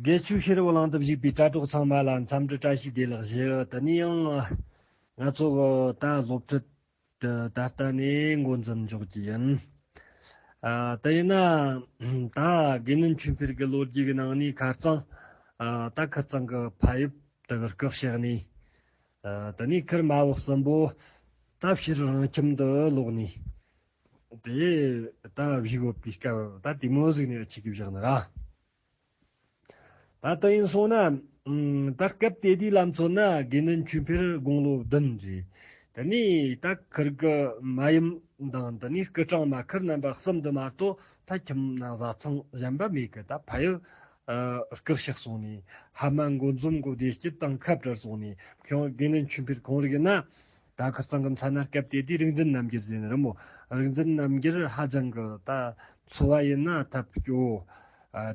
དགེ་ཆོས་ཤེས་རབ་གླིང་དུ་བཞུགས་པའི་དྲ་གྲོགས་ཚང་མ་ལ་འཚམས་འདྲི་བཀྲ་ཤིས་བདེ་ལེགས་ཞུ། དེ་ནས་ཡང། ང་ཚོ་ད་སློབ་ཁྲིད་དུ་ད་ལྟ་ནས་འགོ་འཛིན་འཇོག་རྒྱུ་ཡིན། དེ་ཡིན་ན། ད་དགེ་བསྣོན་ཆོས་འཕེལ་གྱི་ལོ་རྒྱུས་ཀྱི་ནང་ནས་ཁ་རྩང། ད་ཁ་རྩང་གི་ཕ་ཡུལ་དུ་སྐུ་གཤེགས་ནས། དེ་ནས་ཁིར་མ་བུ་གསུམ་པོ། ད་ཕྱིར་རང་ཁྱིམ་དུ་ལོག་ནས། དེ་ད་བཞུགས་ཡོད་པའི་སྐབས་ད་དེ་མོ་གཟིགས་ནས་ཆི་གི་བཞག་ན་ར། ད་དེ་ཡིན་སོང་ན། ད་སྐབས་དེ་དུས་ལམ་ཚོ་ན་དགེ་འདུན་ཆོས་འཕེལ་དགུང་ལོ་བདུན་རེད། དེ་ནས་ད་ཁིར་གི་མ་ཡུམ་དང་དེ་ནས་སྐུ་གྲངས་མ་ཁིར་རྣམ་པ་གསུམ་དུ་མ་གཏོགས་ད་ཁྱིམ་ནང་བཟའ་ཚང་གཞན་པ་མེད་གི་ད་ཕ་ཡུལ་སྐུར་ཕྱག་སོང་ནས་ཧ་མ་འགོ་འཛོམས་གོ་བདེ་སྐྱིད་དང་ཁབ་བྲལ་སོང་ནས་ཁོང་དགེ་འདུན་ཆོས་འཕེལ་གང་རིགས་ན་ད་ཁ་སང་གི་མཚན་ན་སྐབས་དེ་དུས་རིག་འཛིན་རྣམ་རྒྱལ་ཟེར་ནི་རི་མོ་རིག་འཛིན་རྣམ་རྒྱལ་ཧ་ཅང་གི་ད་འཚོ་བ་ཡིན་ན་ཐབས་སྐྱོ།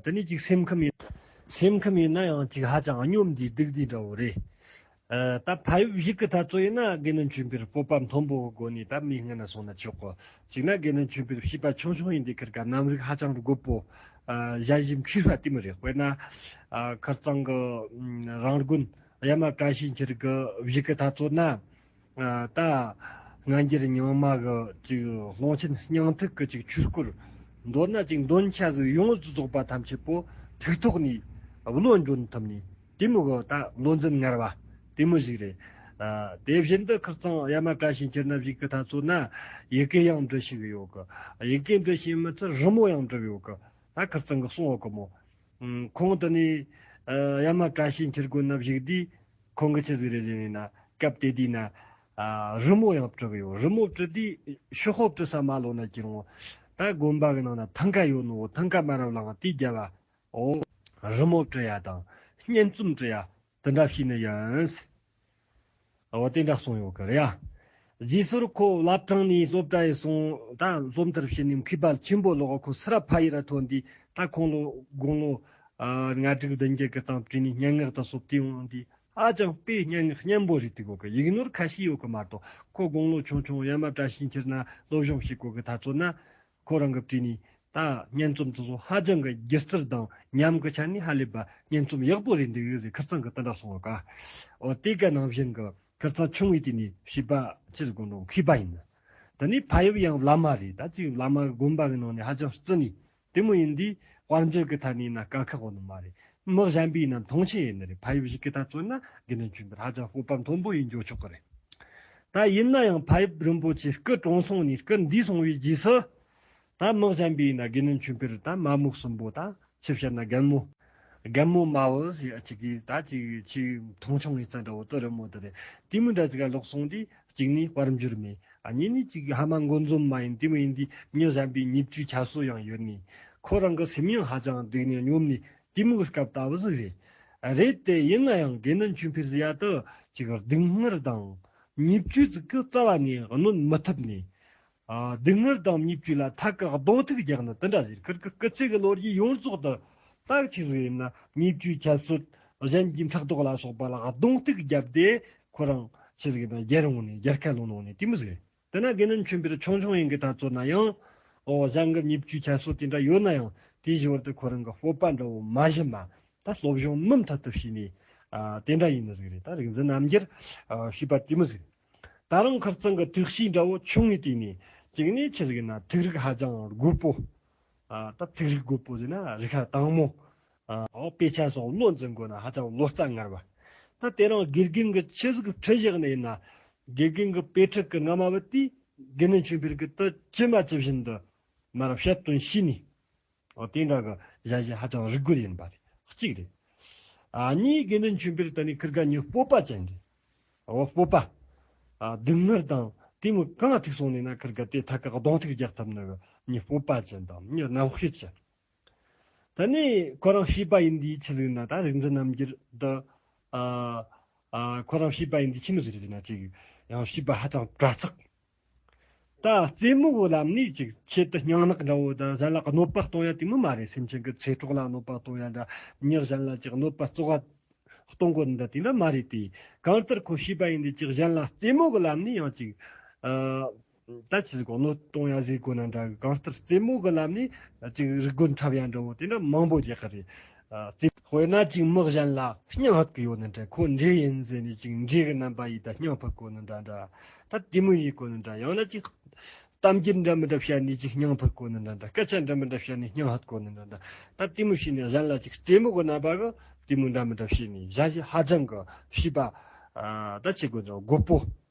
དེ་ནས་ཅིག་སེམས་ཁམས་ཡིན། སེམས་ཁམས་ཡིན་ན་ཡང་ཅིག་ཧ་ཅང་སྙོམས་དེའི་སྡུག་དེ་འདྲ་བོ་རེད། ད་ཕ་ཡུལ་ཞིག་གི་ད་གཙོ་ཡིན་ན་དགེ་འདུན་ཆོས་འཕེལ་སྤོབས་པ་མཐོན་པོ་གི་སྒོ་ནས་ད་མི་ངན་ན་སོང་ན་ཆོག་གི་ཅིག་ན་དགེ་འདུན་ཆོས་འཕེལ་བྱིས་པ་ཆུང་ཆུང་ཡིན་དུས་ཁར་ག་གནམ་རིག་ཧ་ཅང་གི་རྒོད་པོ་བཞའ་བཞིན་ཁུས་ཧྲ་ལྟོས་མི་རེད་དཔེར་ན་ཁར་སང་གི་རང་དགོན། གཡའ་མ་བཀྲ་ཤིས་འཁྱིལ་གྱི་བཞུགས་སྐུ་ཐ་ཚོད་ན། རྟ། སྔ་འགྱུར་རྙིང་མ་གི་ཀློང་ཆེན་སྙིང་ཐིག་གི་ཆོས་སྐོར། མདོར་ན་འདོན་ཆ་གཟུགས་ཡོངས་སུ་རྫོགས་པ་ཐམས་ཅད་པོ་ཐིག་ཐོག་ནས་བློ་འབྱོར་ཐུབ་ནས་དེ་མུག་ད་བློ་འཛིན་ངར་བ་དེ་མུ་བཞུགས་རེད། དེ་བཞིན་དུ་ཁིར་ཚང་གཡའ་མ་བཀྲ་ཤིས་འཁྱིལ་ན་བཞུགས་སྐུ་ཐ་ཚོད་ན་ཡི་གེ་ཡང་འབྲི་ཤེས་གི་ཡོད་གི། ཡི་གེ་འབྲི་ཤེས་མི་ཚད་རི་མོ་ཡང་འབྲི་གི་ཡོད་གི། ད་ཁིར་ཚང་གི་གསུང་འོག་གི་མོ། ཁོང་དུ་ནི། ཡ་མ་བཀྲ་ཤིས་འཁྱིལ་དགོན་ན་བཞུགས་དུས། ཁོང་གི་ཆུ་ཟིག་རེ་བཞིན་ཡིན། སྐབས་དེ་དུས་ན། རི་མོ་ཡང་བྲི་གི་ཡོད། རི་མོ་བྲི་དུས་ཤོག་ཧོབ་བྲི་ས་མ་ལོག་ན་ཅི་རུང། ད་དགོན་པ་གི་ནང་ན་ཐང་ཀ་ཡོད་ནོ། ཐང་ཀ་མ་རབས་ལའང་དུས་བརྒྱ་བའོ། རི་མོ་བྲི་ཡ་དང། སྙན་རྩོམ་བྲི་ཡ། དེ་འདྲ་ཞིག་ནི་ཡིན། ཨ་བ་དེ་འདྲ་གསུངས་ཡོང་གི་རེད་ཡ། རྗེས་སོར་ཁོ་བླ་བྲང་ནས་སློབ་གྲྭ་ཡི་སོང་ད་སློབ་མཐར་ཕྱིན་ནས་མཁས་པ་ཆེན་པོ་ལོག་ཁོ་སི་ར་ཕ་ཡི་ར་ཐོན་དུས་ད་ཁོང་ལོ་དགུང་ལོ་ང་དྲུག་བདུན་བརྒྱད་གི་སྟེང་བྲིས་ནས་སྙན་ངག་དང་སོབ་ཏིང་འོང་དུས་ཧ་ཅང་དཔེ་སྙན་ངག་སྙན་པོ་རེད་དུས་གོ་གི་ཡིག་ནོར་ཁ་ཤས་ཡོད་གི་མ་གཏོགས་ཁོ་དགུང་ལོ་ཆུང་ཆུང་ཡ་མ་བཀྲ་ཤིས་འཁྱིལ་ན་སློབ་སྦྱོང་ཞིག་གོ་གི་ད་ཚོད་ན་ཁོ་རང་གི་བྲིས་ནས་ད་སྙན་རྩོམ་དེ་ཚོ་ཧ་ཅང་གི་སྒྱུ་རྩལ་དང་ཉམས་ཀྱི་ཆ་ནས་ཧ་ལས་པ་སྙན་རྩོམ་ཡག་པོ་རེད་འདུག་ཡོད་ཚད་ཁེར་རྩང་གི་དེ་འདྲ་སོང་བ་དགའ། འོ་དེ་ག་ནང་བཞིན་གྱི་ཁེར་རྩང་ཆུང་ངུའི་སྟེང་ནས་བྱིས་པ་ཕྱིར་དགོན་དུ་ཁུས་པ་ཡིན། དེ་ནས་ཕ་ཡུལ་ཡང་བླ་མ་རེད་ད་ཅིག་བླ་མ་གི་དགོན་པ་གི་ནང་ནས་ཧ་ཅང་བརྩི་ནས་དེ་མོ་ཡིན་འདུག་དཔལ་འབྱོར་གི་ཐད་ནས་ན་དཀའ་ཁག་ནི་མ་རེད། མི་གཞན་པའི་ནང་མཐོང་ཆེན་ཡིན་ནི་རེད་ཕ་ཡུལ་ཞིག་གི་ཐད་བརྩོན་ན་དགེ་འདུན་ཆོས་འཕེལ་ཧ་ཅང་སྤོབས་པ་མཐོན་པོ་ཡིན་འཇོག་ཆོག་གི་རེད། ད་ཡིན་ན་ཡང་ཕ་ཡུལ་རིན་པོ་ཆེའི་སྐུ་གྲོངས་སོང་ནས་སྐུ་འདས་སོང་བའི་རྗེས་སུ། ད་དམག་བཞན་པའི་ན་དགེ་ནི་མཆོད་པའི་རི་དང་མ་རྨུག་གསུམ་པོ་དང་ཆུ་བྱ་ན་རྒན་མོ། རྒན་མོ་དམའ་བོ་ཞེས་གཅིག་གིས་ད་ཅིག་ཆུའི་མཐོང་ཆུང་ངེ་ཚ་འདྲ་བོ་དོ་རི་མོ་དེ་རེད་དེ་མི་འདྲ་ཅིག་ལ་ལོག་སོང་དུས་གཅིག་ནི་དཔར་འབྱོར་མེད་གཉིས་ནི་གཅིག་ཧ་མ་མགོ་འཛོམས་མ་ཡིན་དེ་མིན་དུས་མྱི་གཞན་པའི་ཉེ་བཅུའི་ཁྱད་གསོད་ཡང་ཡོད་ངེས་ཁོ་རང་གི་སེམས་ཡང་ཧ་ཅང་སྡུག་ནས་སྙོམས་ནས་གཏི་མུག་སྐབས་ལྟ་བུ་ཟིག་རེད། རེད་དེ་ཡིན་ན་ཡང་དགེ་འདུན་ཆོས་འཕེལ་སི་ཡ་ཏུ་ཅིག་སྡུག་བསྔལ་དང་ཉེས་བཅོས་ཙི་གུ་རྩ་བ་ནས་གནོན་མི་ཐུབ་ནས། སྡུག་བསྔལ་དང་ཉེས་བཅོས་ལ་ཐད་ཀར་གདོང་ཐུག་རྒྱག་ན་དེ་འདྲ་ཟེར་ཁར་གི་སྐུ་ཚེ་གི་ལོ་རྒྱུས་ཡོངས་རྫོགས་དུ་རྟགས་ཆིག་ཟིག་ཡིན་ན་ཉེས་བཅོས་ཁྱད་གསོད་གཞན་གྱི་འཕྲག་དོག་ལ་སོགས་པ་ལ་གདོང་ཐུག་བརྒྱབ་སྟེ་ཁོ་རང་ཆིག་ཟིག་ཡིན་ན་རྒྱལ་རོང་ནས་རྒྱལ་ཁ་ལོ་ནང་ནས་གཏི་མུག་ཟིག་རེད། དེ་ན་དགེ་འདུན་ཆོས་འཕེལ་ཆུང་ཆུང་ཡིན་གྱི་ད་གཙོ་ན་ཡང། ཨོ་བཟང་གི་ཉིབ་བཅུའི་ཁྱད་གསོད་དེ་འདྲ་ཡོད་ན་ཡང་དེའི་བཞི་བར་དུ་ཁོ་རང་གི་སྤོབས་པ་འདྲ་བོ་མ་བཞི་མ་ད་སློབ་སྦྱོང་མུ་མཐུད་དུ་བྱས་ནས་དེ་འདྲ་ཡིན་ནི་ཟིག་རེད་ད་རིག་འཛིན་རྣམ་རྒྱལ་ཞེས་པ་དེ་མི་ཟིག་ད་རང་ཁར་ཙང་གི་དུག་གཤིས་འདྲ་བོ་ཆུང་ངུའི་སྟེང་ནས་བཅུག་ནས་ཁྱི་ཟིག་ན་དུག་རིགས་ཧ་ཅང་རྒོད་པོ། ད་དུག་རིགས་རྒོད་པོ་ཟིག་ན་རིགས་ཧ་དྭངས་མོ། དཔེ་ཆ་སོགས་བློ་འཛིན་དགོས་ན་ཧ་ཅང་བློ་རྩ་ངར་བ། ད་དེ་རིང་དགེ་རྒན་གྱི་ཆོས་གཟུགས་ཁྲི་བཞེངས་ནས་ཡིན་ན། དགེ་རྒན་གྱི་དཔེ་ཁྲིད་ཀྱི་རྔ་མ་བུ་དེས་དགེ་འདུན་ཆོས་འཕེལ་གྱི་དུ་ཅི་མ་ཅི་བཞིན་དུ་མར་བཤད་སྟོན་བྱས་ནས། དེ་འདྲ་གི་གཞན་བྱས་ཧ་ཅང་རིགས་རྒོད་ཡིན་པ་གཅིག་རེད། གཉིས་དགེ་འདུན་ཆོས་འཕེལ་ད་ནི་ཁིར་ག་ཉིའི་སྤོབས་པ་ཅན་རེད། སྤོབས་པ། སྡུག་བསྔལ་དང་དེ་མི་གང་ཐུག་སོང་ནས་ན་ཁིར་ག་དེ་ཐ་གག་གདོང་ཐུག་རྒྱག་ཐབས་ནི་གི་ཉིའི་སྤོབས་པ་ཅན་དང་ཉིའི་རྣམ་ཤེས་ཅན། ད་ནི་ཁོ་རང་བྱིས་པ་ཡིན་དུས་ཁྱི་ཟིག་ན་ད་རིག་འཛིན་རྣམ་རྒྱལ་འདི། ཁོ་རང་བྱིས་པ་ཡིན་དུས་ཁྱི་མི་ཟིག་རིག་འཛིན་ན་ཅིག། ཡང་བྱིས་པ་ཧ་ཅང་དྲ་ཚགས། ད་རྩེད་མོ་བོ་ལབ་ནས་ཅིག་ཁྱེད་དུ་སྙང་ནག་འདྲ་བོ་ད་གཞན་ལ་གནོད་པ་གཏོང་ཡ་དུས་མི་མ་རེད་སེམས་ཅན་གྱི་ཚེ་གྲོགས་ལ་གནོད་པ་གཏོང་ཡ་འདྲ་མྱི་གཞན་ལ་ཅིག་གནོད་པ་བཙོག་བ་གཏོང་གོ་འདྲ་དུས་འདྲ་མ་རེད་དེ། གང་ལྟར་ཁོ་བྱིས་པ་ཡིན་དུས་ཅིག་གཞན་ལ་རྩེད་མོ་བོ་ལབ་ནས་ཡང་ཅིག། ད་ཆའི་གོ་ནོར་གཏོང་ཡ་ཟིག་གོ་ན་འདྲ་གི་གང་ལྟར་རྩེད་མོ་གི་ལམ་ནས་ཅིག་རིག་རྒོལ་འཁྲབ་ཡ་འདྲ་བོ་དེ་འདྲ་མང་པོ་རྒྱག་གི་རེད། དཔེར་ན་ཅིག་དམག་གཞན་ལ་བསྙག་ཧད་གི་ཡོད་ན་འདྲ་ཁོ་འདྲེ་ཡིན་ཟེར་ནས་ཅིག་འདྲེ་གི་རྣམ་པ་ཡིས་ད་བསྙག་ཕུད་གོ་ན་འདྲ་འདྲ་ད་དེ་མོ་ཡིས་གོ་ན་འདྲ་ཡང་ན་ཅིག་གཏམ་རྒྱུད་འདྲ་མི་འདྲ་བཤད་ནས་ཅིག་བསྙག་ཕུད་གོ་ན་འདྲ་འདྲ་སྐད་ཆ་འདྲ་མི་འདྲ་བཤད་ནས་བསྙག་ཧད་གོ་ན་འདྲ་འདྲ་ད་དེ་མོ་བྱས་ནས་གཞན་ལ་ཅིག་རྩེད་མོ་གི་རྣམ་པ་གི་དེ་མོ་འདྲ་མི་འདྲ་བྱས་ནས་བཞག་བྱས་ཧ་ཅང་གི་བྱས་པ་ད་ཆའི་གོ་ནོར་རྒོད་པོ།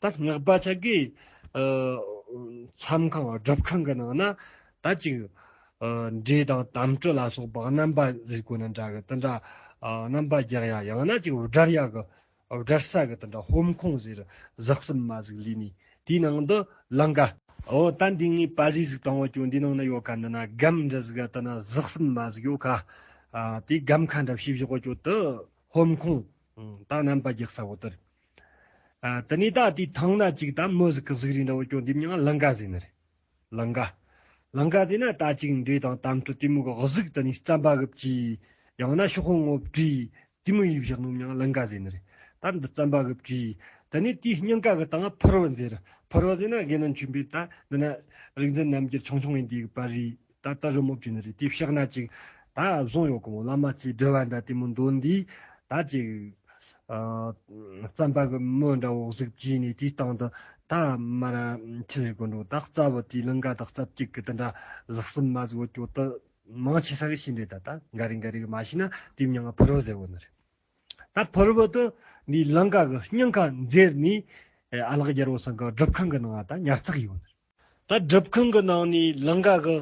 ད་སྔགས་པ་ཅག་གིས་མཚམས་ཁང་སྒྲུབ་ཁང་གི་ནང་ན་དར་ཅིག་འབྲས་དང་དམ་གྲུ་ལ་སོགས་པ་རྣམ་པ་གཟིགས་གོ་ན་འདྲ་གི་དུད་འདྲ་རྣམ་པ་བརྒྱག་ཡ་ཡང་ན་ཅིག་དབྲར་ཡ་གི་དབྲར་ས་གི་དུད་འདྲ་ཧོམ་ཁུང་བཟེ་རུ་ཟགས་སུམ་མ་ཟིག་ལུས་ནས་དེའི་ནང་དུ་ལང་ག། འོ་ད་འདི་ངའི་པ་ལུས་ཟིག་དང་བོ་ཀྱང་འདི་ནང་ན་ཡོད་ག་འདི་ན་སྒམ་འདྲ་ཟིག་ག་དུད་ན་ཟགས་སུམ་མ་ཟིག་ཡོད་ག། དེའི་སྒམ་ཁ་འདྲ་བྱེད་བཞག་གོ་ཀྱོ་དུད་ཧོམ་ཁུང་དང་རྣམ་པ་བརྒྱག་ས་བོ་དུད། དེ་ནས་ད་ལྟའི་ཐང་ན་ཅིག་ད་མུ་ཟི་གི་གཟུགས་རིས་འདྲ་བོ་ཅུང་འདེབས་མྱོང་ང་ལང་ཀ་ཟེར་ནི་རེད། ལང་ཀ། ལང་ཀ་ཟེར་ན་ད་ཅིག་འདྲེ་དང་དམ་ཁྲོ་དེ་མུ་གི་གཟུགས་དེ་ནས་རྩམ་པ་གི་བཅུད། ཡང་ན་ཤོག་ཧོང་ངོ་བྲིས། དེ་མུ་ཡིས་བཞག་ནོ་མྱོང་ང་ལང་ཀ་ཟེར་ནི་རེད། ད་འདི་རྩམ་པ་གི་བཅུད། དེ་ནས་དེའི་སྙིང་ག་གི་སྟེང་ཕུར་བུ་ཟེར། ཕུར་བུ་ཟེར་ན་དགེ་འདུན་ཆོས་འཕེལ་ད་འདི་ན། རིག་འཛིན་རྣམ་རྒྱལ་ཆུང་ཆུང་ཡིན་དེའི་བར་རིས། ད་ལྟ་རི་མོ་བྲིས་ནས་རི་ལྟེབ་ཤག་ན་ཅིག། ད་བཟུང་ཡོད་གོང་བླ་མ་ཚེ་སྒྲོལ་བ་འདྲ་ལྟད་མོ་མདོག་འདི། ད་ཅིག། རྩམ་པ་གི་མོ་འདྲ་འོག་གཟུགས་བགྱིས་ནས་དེའི་སྟེང་དུ། ད་མ་ར་ཁྱི་ཞིག་གོན་འགྲོ། ད་རྩ་བུ་དེའི་ལིང་ག་དང་རྩ་བརྒྱུད་གི་དེ་འདྲ་ཟག་གསུམ་མ་ཟིག་འོ་སྐྱོ་དུ། མང་ཆེ་ས་གི་ཤིང་འདྲེ་ད་ལྟ་འགའ་རེ་འགའ་རེ་གི་མ་ཤི་ན་དེའི་མྱང་ང་ཕུར་བུ་ཟེར་བོ་ནི་རེད། ད་ཕུར་བུ་དུ་འདིའི་ལིང་ག་གི་སྙིང་ག་འཛེར་ནས། ཨ་ལགས་རྒྱལ་བོ་སང་ག་སྒྲུབ་ཁང་གི་ནང་ང་ད་ཉར་ཚགས་ཡོད་ནི་རེད། ད་སྒྲུབ་ཁང་གི་ནང་ནས་ལིང་ག་གི་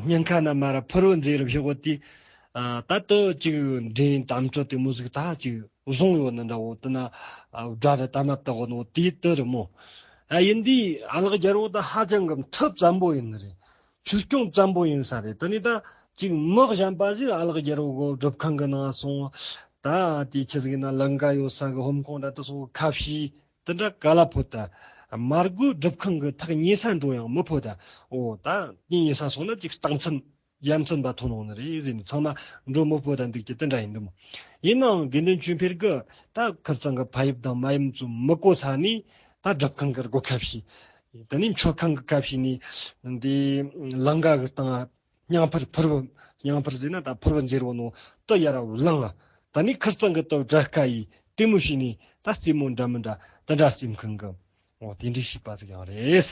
སྙིང་ཁ་ན་མར་ཕུར་བུ་མཛེས་རབ་ཞོགས་དུས་ད་དུ་གཅིག་འགྲན་དམ་ཆོས་དེ་མོ་ཟིག་ད་གཅིག་བཟུང་ཡོད་ནི་འདྲ་བོ་དེ་ན་སྒྲ་རི་ད་མ་ཏག་ནོ་དེ་དུ་རི་མོ་ཨ་ཡིན་དུས་ཨ་ལགས་རྒྱལ་བོ་ད་ཧ་ཅང་གི་མཐུ་ཙམ་པོ་ཡིན་ནི་རེད་ཆོས་སྐྱོང་ཙམ་པོ་ཡིན་ས་རེད་དེ་ནས་ད་གཅིག་མི་གཞན་པ་ཟིག་ཨ་ལགས་རྒྱལ་བོ་གི་སྒྲུབ་ཁང་གི་ནང་སོང་ད་དེ་ཆི་ཟིག་ན་ལིང་ག་ཡོད་ས་གི་ཧོམ་ཁོང་ད་དུ་སོགས་ཁ་བྱེ་དེ་འདྲ་ག་ལ་ཕོད་ད། མར་རྒོད་སྒྲུབ་ཁང་གི་ཐག་ཉེ་ས་འགྲོ་ཡང་མི་ཕོད་ད། འོ་ད། ཉིན་ཉེ་ས་སོང་ན་ཅིག་རྟགས་མཚན། ཡ་མཚན་འབའ་ཐོན་ལོང་ནི་རེད་ཟེར་ནས་ཚང་མ་འགྲོ་མི་ཕོད་ད་འདུག་ཀྱི་དེ་འདྲ་ཡིན་འདུག་མོད། ཡིན་ནའང་དགེ་འདུན་ཆོས་འཕེལ་གི་ད་ཁི་ཚང་གི་ཕ་ཡུབ་དང་མ་ཡུམ་ཚོ་མི་གོ་ས་ནི་ད་སྒྲུབ་ཁང་གི་སྒོ་ཁ་ཤས། དེ་ནས་མཆོད་ཁང་གི་ཁ་ཤས་ནས། དེ། ལང་ག་གི་སྟེང། སྙིང་ཕུར་ཕུར་བུ། སྙིང་ཕུར་བཟོས་ན་ད་ཕུར་བུ་འཇེར་བོ་ནོ། ཏི་ཡ་ར་བུ་བླངས། ད་ནི་ཁིར་ཙང་གི་ཏོ་བྲ་ཀ་ཡིས་ལྟད་མོ་བྱས་ནས་ད་རྩེད་མོ་འདྲ་མི་འདྲ་དེ་འདྲ་སེམས་ཁུང་གི། འོ་དེ་འདྲའི་བྱིས་པ་ཟིག་ཡང་རེད།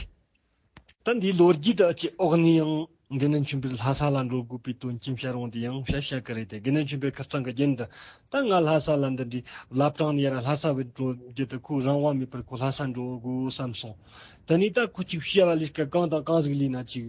ད་འདིའི་ལོ་རྒྱུས་དག་ཅི་ཨོག་ནས་ཡང་དགེ་འདུན་ཆོས་འཕེལ་ལྷ་ས་ལ་འགྲོ་དགོས་པའི་དོན་རྐྱེན་བྱ་རུང་དེ་ཡང་བྱ་བྱ་གི་རེད་དེ་དགེ་འདུན་ཆོས་འཕེལ་ཁིར་ཙང་གི་རྒྱན་དུ་ད་ང་ལྷ་ས་ལ་འདི་འདྲའི་བླ་བྲང་ནས་ཡར་ལྷ་ས་བས་འགྲོ་རྒྱུ་དེ་ཁོའི་རང་དབང་མེད་པར་ཁོ་ལྷ་ས་འགྲོ་དགོས་བསམ་སོང། དེ་ནས་ད་ཁོ་ཅིག་བྱས་པ་ལས་ཀ་གང་དང་གང་ཟིག་ལས་ན་ཅིག།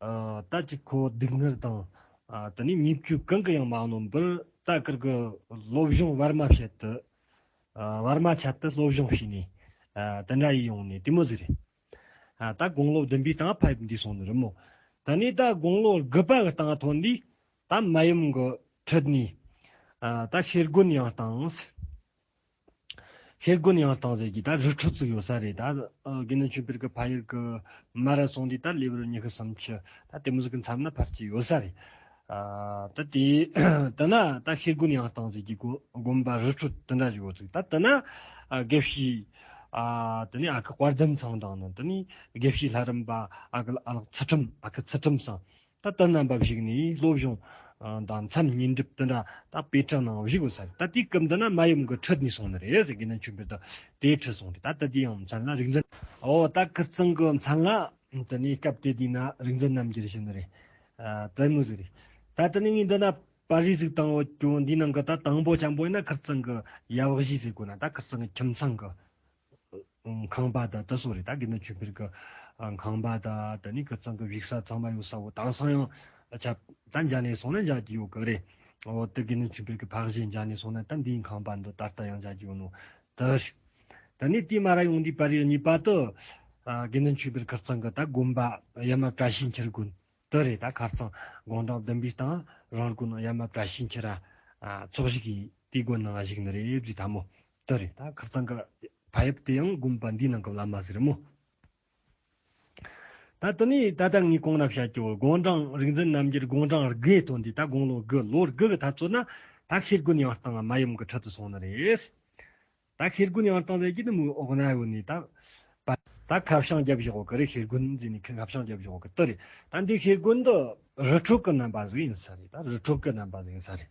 རྟ་གཅིག་ཁོ་བོ་སྡུག་བསྔལ་དང། དེ་ནས་ཉེས་སྤྱོད་གང་གི་ཡང་མ་གནོན་པར་རྟ་དཀར་གྱི་སློབ་སྦྱོང་བར་མ་བྱེད་དུ། བར་མ་ཆད་དུ་སློབ་སྦྱོང་བྱས་ནས། དེ་འདྲ་ཡིས་ཡོང་ནས་དེ་མོ་ཟེར། རྟ་དགུང་ལོ་བདུན་པའི་སྟངས་ཕེབས་འདུས་སོང་ནི་རི་མོ། དེ་ནས་རྟ་དགུང་ལོ་དགུ་པ་གི་སྟངས་ཐོན་དུས་རྟ་མ་ཡུམ་གྱི་ཁྲིད་ནས། རྟ་ཤེལ་སྒོ་ནས་ཡང་བཏང། ཧེ་རྒོན་ཡང་བཏང་ཟེར་གྱི་ད་རུ་ཁྲུ་ཚིག་ཡོད་ས་རེད་ད་གིན་ནི་ཆུ་བེར་གི་ཕ་ཡུལ་གི་མ་ར་སོང་དུས་ད་ལེ་བུར་ཉི་ཤུ་སུམ་ཅུ་ད་དེ་མི་ཟིག་གི་མཚམས་ན་ཕར་གྱི་ཡོད་ས་རེད་ད་དེ་དེ་ན་ད་ཧེ་རྒོན་ཡང་བཏང་ཟེར་གྱི་དགོན་པ་རུ་ཁྲུ་དེ་འདྲ་ཞིག་ཡོད་ཚིག་ད་དེ་ན་དགེ་བཤེས་དེ་ནས་ཨ་ཁུ་དཔལ་ལྡན་ཚང་དང་ནི་དེ་ནས་དགེ་བཤེས་ལྷ་རམས་པ་ཨ་ཁུ་ལ་ལག་ཚུལ་ཁྲིམས་ཨ་ཁུ་ཚུལ་ཁྲིམས་སང་ད་ལྟ་ནམ་བབས་ཤིག་ནས་སློབ་སྦྱོང་དང་མཚམས་ཉིན་སྒྲིབ་འདི་འདྲ་ད་པེ་ཀྲང་ནང་བཞུགས་གོ་ས་རེད་ད་དེའི་སྐབས་འདི་ན་མ་ཡུམ་གྱི་ཁྲི་གཉིས་སོང་ནི་རེད་ཟེར་གི་ན་ཆུ་འབེ་ད་དེའི་ཁྲི་སོང་རེད་ད་ད་དེའི་ཡང་མཚན་ལ་རིག་འཛིན། འོ་ད་ཁི་ཙང་གི་མཚན་ལ་དེ་ནས་སྐབས་དེ་དུས་ན་རིག་འཛིན་རྣམ་རྒྱལ་ཞུ་ནི་རེད་དེ་མི་ཟིག་རེད་ད་དེ་ནས་ངས་འདི་ན་པར་རིས་ཟིག་བཏང་འོ་ཀྱོ་འདིའི་ནང་གི་ད་དང་པོ་བྱམས་པོ་ཡིན་ན་ཁི་ཙང་གི་ཡབ་བཞི་ཟེར་གོ་ན་ད་ཁི་ཙང་གི་ཁྱིམ་ཚང་གི་ཁང་པ་དང་ད་སོགས་རེད་ད་གིན་ན་ཆུ་བེར་གི་ཁང་པ་དང་ད་ནི་ཁི་ཙང་གི་བིག་ས་ཚང་མ་ཡོང་ས་བོ་དང་སང་ཡང་ཆ་ད་འཇག་ནས་སོང་ན་འཇག་གི་ཡོག་གི་རེད་འོ་ད་གིན་ན་ཆུ་བེར་གི་ཕག་གཞས་འཇག་ནས་སོང་ན་ད་འདིའི་ཁང་པ་འདི་ད་ལྟ་ཡང་འཇག་གི་ཡོག་ནོ་ད་ཧྲི། ད་ནི་ཏི་མ་ར་ཡོང་དུས་པར་ཡོད་གཉིས་པ་ཏི། གིན་ན་ཆུ་བེར་ཁི་ཙང་གི་ད་དགོན་པ་ཡ་མ་བཀྲ་ཤིས་འཁྱིལ་དགོན་ཏི་རེད་ད་ཁ་ཙང་དགོང་གྲངས་བདུན་པའི་སྟང་རང་དགོན་ཡ་མ་བཀྲ་ཤིས་འཁྱིལ་ར་ཚོགས་གཞིག་གི་ཏི་དགོན་ནང་གཞིག་ནི་རེད་བཟི་ད་མོ་དེ་རེད་ད་ཁག་ཚང་གི་ཕ་ཡབ་དེ་ཡང་དགོན་པ་འདིའི་ནང་གི་བླ་མ་ཟེར་མོད། ད་དེ་ནས་ད་ལྟ་ངས་གང་ལབ་བྱ་རྒྱུ་དགོངས་གྲངས་རིག་འཛིན་རྣམ་རྒྱལ་དགོངས་གྲངས་དགུའི་དོན་འདི་ད་དགུང་ལོ་དགུ་ལོ་དགུ་གི་འཐབ་རྩོད་ན་ད་ཤེལ་དགུན་ཡང་བཏང་མ་ཡུམ་གྱི་ཁྲི་དུ་སོང་ནི་རེད། ད་ཤེལ་དགུན་ཡང་བཏང་ཟེར་གྱི་འདི་མོའི་འོག་ན་ཡོད་ནི་ད་བལྟ། ད་ཁ་བྱང་རྒྱབ་བཞག་གི་རེད་ཤེལ་དགུན་ཟེར་ནི་ཁ་བྱང་རྒྱབ་བཞག་གི་དེ་རེད་ད་འདི་ཤེལ་དགུན་འདི་རི་ཕྲུག་གི་རྣམ་པ་ཟིག་ཡིན་ས་རེད་ད་རི་ཕྲུག་གི་རྣམ་པ་ཟིག་ཡིན་ས་རེད།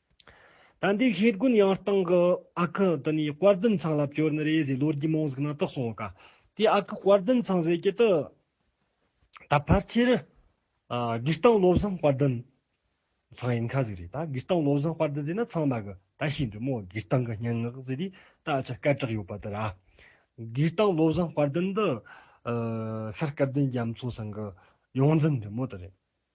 དཔལ་ལྡན་ཤེལ་དགོན་ཡང་སྟེང་གི་ཨ་ཁུ་དེ་ནས་དཔལ་ལྡན་ཚང་ལ་བསྐྱོར་ནས་རེས་གཟིགས་ལོ་རྒྱུས་མང་གཟིགས་ན་དག་སོང་ག་དེའི་ཨ་ཁུ་དཔལ་ལྡན་ཚང་ཟེར་གྱི་དེ་ད་ཕལ་ཆེར་སྒེར་སྟེང་བློ་བཟང་དཔལ་ལྡན་ཚང་ཡིན་ག་ཟིག་རེད་ད་སྒེར་སྟེང་བློ་བཟང་དཔལ་ལྡན་ཟེར་ན་ཚང་མ་གི་ད་ཤེས་འགྲོ་མོ་སྒེར་སྟེང་གི་སྙན་ངག་ཟེར་དུས་ད་ཆ་སྐད་གྲགས་ཡོད་པ་དེ་ར་སྒེར་སྟེང་བློ་བཟང་དཔལ་ལྡན་འདི་ཤར་སྐལ་ལྡན་རྒྱ་མཚོ་ཚང་གི་ཡོངས་འཛིན་འདྲེ་མོ་དེ་རེད།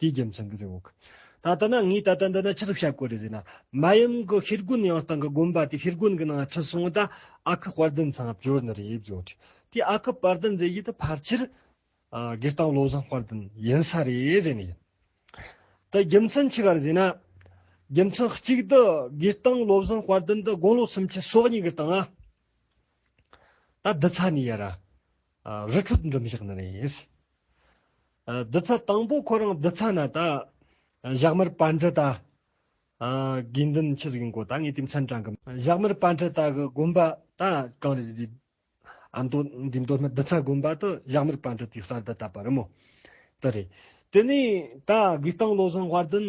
དེའི་རྒྱུ་མཚན་གྱིས་ཟེར་བ། ད་ལྟ་ན་ངས་ད་ལྟ་འདི་ན་ཅི་ཐུབ་བྱ་དགོས་རེད་ཟེར་ན། མ་ཡུམ་གྱི་ཤེལ་སྒོའི་ནང་སྟེང་གི་དགོན་པ་དེའི་ཤེལ་སྒོའི་ནང་ན་ཁྲི་སྲོང་དང་ཨ་ཁུ་དཔལ་ལྡན་ཚང་བྱོན་ནི་རེད་བྱོས་ཏེ། དེའི་ཨ་ཁུ་དཔལ་ལྡན་ཟེར་ཡུལ་དེ་ཕལ་ཆེར་སྒེར་དང་བློ་བཟང་དཔལ་ལྡན་ཡིན་ས་རེད་ཟེར་ནི་ཡིན། དེའི་རྒྱུ་མཚན་ཅི་ག་རེད་ཟེར་ན། རྒྱུ་མཚན་གཅིག་དེ་སྒེར་དང་བློ་བཟང་དཔལ་ལྡན་དེ་དགུང་ལོ་སུམ་ཅུ་སོ་གཉིས་ཀྱི་སྟེང་ན། ད་འདི་ཚ་ནས་ཡར་རི་ཁྲོད་འགྲིམ་བཞག་ནི་རེད། བདུད་ཚ་དང་པོ་ཁོ་རང་བདུད་ཚ་ན་ད། བཞག་མེར་པ་འདྲི་ད། དགེ་འདུན་ཁྱི་ཟིག་འགོ་ད་ངས་དེ་མཚན་དྲང་གི། བཞག་མེར་པ་འདྲི་ད་གི་དགོན་པ་ད་གང་རེད་ཟེར་དུས། ཨ་མདོ་འདི་མདོ་སྨད་བདུད་ཚ་དགོན་པ་དུ་བཞག་མེར་པ་འདྲི་དེའི་གསར་བརྡ་ད་པ་རི་མོ་དུ་རེད། དེ་ནས་ད་དགོས་སྟངས་བློ་བཟང་དབར་འདུན།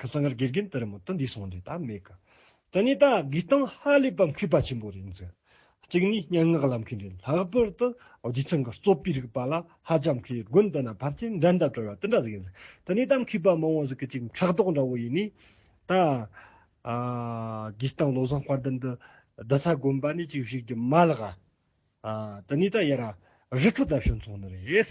ཁ་སང་གར་དགེ་རྒན་དེ་རིང་མོ་ཏི་འདི་སོང་དེ་ད་མེད་གི། དེ་ནས་ད་དགེ་སྟོང་ཧ་ལས་པ་མཁས་པ་ཆེན་པོ་རེད་འཛིན། གཅིག་ནས་སྙན་ངག་ལབ་མཁན་རེད་ལྷག་པར་དུ་རྒྱུ་མཚན་གྱི་རྩོད་པའི་རིགས་པ་ལ་ཧ་ཅང་མཁས་དགོན་དེ་ན་ཕར་ཚད་འགྲན་ཟླ་བྲལ་བ་དེ་འདྲ་ཟིག་ཡིན་འཛིན། དེ་ནས་ད་མཁས་པ་མང་བོ་ཟིག་གི་གཅིག་ཕྲག་དོག་འདྲ་བོ་ཡིན་ནས། ད་དགེ་སྟོང་བློ་བཟང་དཔལ་ལྡན་འདི་བདུད་ས་དགོན་པ་ནས་གཅིག་བཤིག་རྒྱུ་མ་ལགས། དེ་ནས་ད་ཡེ་ར་རི་ཁྲོད་ད་བྱོན་ཚོང་ནི་རེད།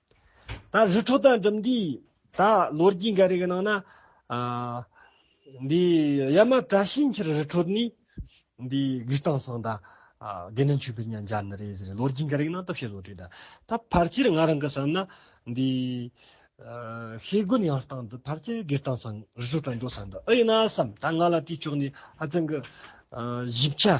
ད་རི་ཁྲོད་དང་འགྲིམ་འགྲུལ་ཡིན། ད་ལོ་རྒྱུས་འགའ་རེ་གི་ནང་ན། འདི་ཡ་མ་བཀྲ་ཤིས་འཁྱིལ་རི་ཁྲོད་ནས། འདི་གུས་སྟངས་སངས་ད། དགེ་འདུན་ཆོས་འཕེལ་གཉའ་འཇག་ནི་རེད་ཟེར་རེད་ལོ་རྒྱུས་འགའ་རེ་གི་ནང་སྟབས་བཤད་བཟོ་དུས་ད། ད་ཕར་ཆེར་ང་རང་གི་བསམ་ན། འདི། ཤེལ་སྒོ་ཉག་སྟངས་འདི་ཕར་ཆེར་གུས་སྟངས་སངས་རི་ཁྲོད་དང་འགྲོ་སངས་ད་ཨེ་ཡིན་ན་བསམ། ད་ང་ལ་དེའི་ཕྱོགས་ནས་ཧ་ཅང་གི། ཞིབ་ཆ།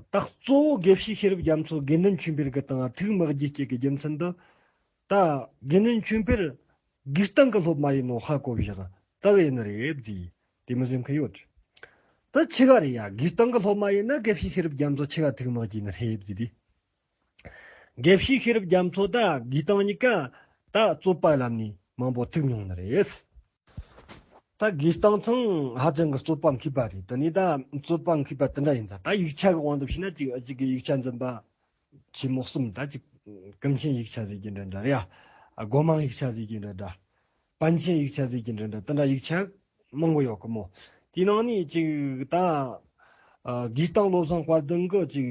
རྟགས་གཙོ་བོ་དགེ་བཤེས་ཤེས་རབ་རྒྱ་མཚོ་དགེ་འདུན་ཆོས་འཕེལ་གྱི་དང་ཐུགས་དམག་རྒྱུད་གཅིག་གི་རྒྱུ་མཚན་དུ། ད་དགེ་འདུན་ཆོས་འཕེལ་སྒེར་སྟེང་གི་སློབ་མ་ཡིན་ནོ་ཧ་གོ་བཞག་རྟགས་ཡིན་ནི་རེད་རྫི་དེ་མི་སེམས་ཁུལ་ཡོད། ད་ཆི་ག་རེད་ཡ་སྒེར་སྟེང་གི་སློབ་མ་ཡིན་ན་དགེ་བཤེས་ཤེས་རབ་རྒྱ་མཚོ་ཆི་ག་ཐུགས་དམག་རྒྱུད་ནི་རེད་རྫི་དེ་དགེ་བཤེས་ཤེས་རབ་རྒྱ་མཚོ་དང་དགེ་དང་གཉིས་ཀ་ད་རྩོད་པ་ལམ་ནས་མང་པོ་ཐུག་མྱོང་ནི་རེད། ད་དགེ་རྟགས་མཚང་ཧ་ཅང་གི་རྩོད་པ་མཁས་པ་རེད་དེ་ནས་ད་རྩོད་པ་མཁས་པ་དེ་འདྲ་ཡིན་ཙང་ད་ཡིག་ཆ་གི་དབང་དུ་ཕྱིན་ན་གཅིག་གཅིག་གི་ཡིག་ཆ་འཛིན་པ་ཆེན་མོ་གསུམ་ད་གཅིག་ཀུན་མཁྱེན་ཡིག་ཆ་ཟེར་གྱི་འདྲ་འདྲ་རེད་ཨ་སྒོ་མང་ཡིག་ཆ་ཟེར་གྱི་འདྲ་འདྲ་པཎ་ཆེན་ཡིག་ཆ་ཟིལ་གྱིས་འགྲན་པའི་དཔེ་འདྲ་ཡིག་ཆ་མང་པོ་ཡོད་གི་མོད། དེའི་ནང་ནས་གཅིག་དང། གིས་ཏང་བློ་བཟང་དཔལ་ལྡན་གྱིས་གཅིག།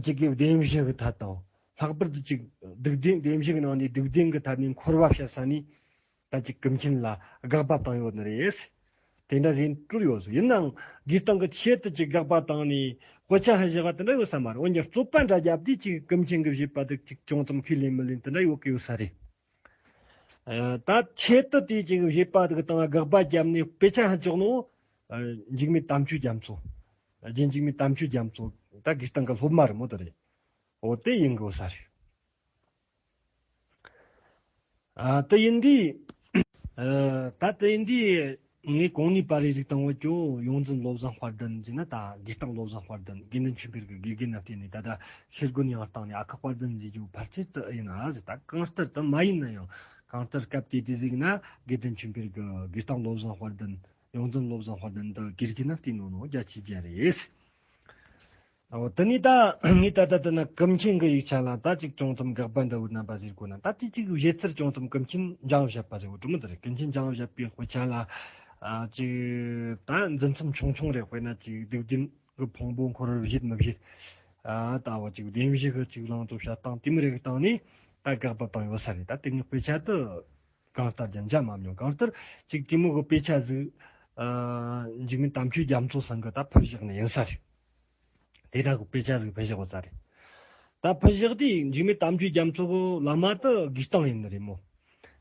གཅིག་གི་བདེན་བཞི་གི་ཐད་དང། ལྷག་པར་དུ་གཅིག། སྡུག་བདེན་བདེན་བཞི་གི་ནང་ནས་སྡུག་བདེན་གྱི་ཐད་ནས་འཁོར་བ་བཤད་ས་ནི། ད་ཅི་གི་མཁྱེན་ལ་དགག་པ་བཏང་ཡོད་ནི་རེད། དེ་འདྲ་བཞིན་དྲུག་ཡོད་སྲིད་ཡིན་ནའང་འདིའི་སྟེང་གི་ཆེད་དུ་གཅིག་དགག་པ་དང་ནི་དཔེ་ཆ་ཧ་བཞི་བ་དེ་འདྲ་ཡོད་ས་མ་རེད་འོན་ཀྱང་རྩོད་པ་འདྲ་རྒྱབ་དུས་གཅིག་གི་གི་མཁྱེན་གི་བཞེད་པ་དེ་གཅིག་ཅུང་ཙམ་ཁས་ལེན་མི་ལེན་དེ་འདྲ་ཡོད་གི་ཡོད་ས་རེད། ད་ཆེད་དུ་དེའི་གཅིག་གི་བཞེད་པ་དེ་གི་སྟེང་དགག་པ་བརྒྱབ་ནས་དཔེ་ཆ་ཧ་ཅོག་ནི་འཇིགས་མེད་དམ་ཆོས་རྒྱ་མཚོ། རྗེ་འཇིགས་མེད་དམ་ཆོས་རྒྱ་མཚོ། ད་གི་སྟེང་གི་སློབ་མ་རེད་མོད་དེ་རེད། འོ་དེ་ཡིན་གི་ཡོད་ས་རེད། ད་ཡིན་དུས་ངས་གང་ནུས་པར་རིགས་རིག་དང་བོ་ཅོག་ཡོངས་འཛིན་བློ་བཟང་དཔར་ལྡན་གྱིས་ནི་ད་དགེ་རྟག་བློ་བཟང་དཔར་ལྡན་དགེ་འདུན་ཆོས་འཕེལ་གྱི་དགེ་རྒན་ལ་བསྟེན་ནས་ད་ལྟ་ཤེལ་སྒོ་ཉི་མར་བཏང་ནས་ཨ་ཁ་དཔར་ལྡན་མཛད་རྒྱུ་ཕར་ཆེར་དུ་ཨེ་ཡིན་ཨ་ཟེར་ད་གང་ལྟར་དུ་མ་ཡིན་ན་ཡང་གང་ལྟར་སྐབས་དེ་དུས་གཟིགས་ན་དགེ་འདུན་ཆོས་འཕེལ་གྱི་དགེ་རྟག་བློ་བཟང་དཔར་ལྡན་ཡོངས་འཛིན་བློ་བཟང་དཔར་ལྡན་དུ་དགེ་རྒན་ལ་བསྟེན་ནོ་ནོ་རྒྱ་ཆེ་རྒྱ་རེད། དེ་ནས་ད་ངས་ད་ལྟ་འདི་ན་ཀུན་མཁྱེན་གྱི་ཡིག་ཆ་ལ་ད་ཅིག་ཅུང་ཙམ་དགག་པ་འདྲ་བོའི་རྣམ་པ་བཞིར་གོ་ན་ད་དེ་གཅིག་གཞལ་ཚུལ་ཅུང་ཙམ་ཀུན་མཁྱེན་འཇང་བཞད་པ་རེད་བོ་དྲུག་མི་འདི་རེད་ཀུན་མཁྱེན་འཇང་བཞད་པའི་དཔེ་ཆ་ལ་ཅིག་ད་འཛིན་མཚམས་ཆུང་ཆུང་རེ་དཔེར་ན་ཅིག་སྡིག་རྒྱུན་གྱི་ཕུང་པོ་འཁོར་བར་བཞེད་མི་བཞེད་ད་བོ་ཅིག་བདེན་བཞི་གི་ཅིག་བླང་དོར་བྱ་སྟངས་དེ་མི་རིགས་སྟངས་ནི་ད་དགག་པ་བཏང་ཡོད་ས་རེད་ད་དེ་ནས་དཔེ་ཆ་དུ་གང་ལྟར་རྒྱ་འཇམ་མམ་ཡང་གང་ལྟར་ཅིག་གཏི་མུག་གི་དཔེ་ཆ་གཟིགས་འཇིགས་མེད་དམ་ཆོས་རྒྱ་མཚོ་ཟིན་གྱི་ད་ཕུར་བཞག་ནི་ཡིན་ས་རེད། དེ་དག་གི་དཔེ་ཆ་ཟིག་ཕུ་བཞག་པ་ས་རེད། ད་ཕུ་བཞག་དུས་འཇིགས་མེད་གཏམ་རྒྱུད་རྒྱ་མཚོ་གི་བླ་མ་དེ་དགེ་སྟོང་ཡིན་ནི་རེད་མོད།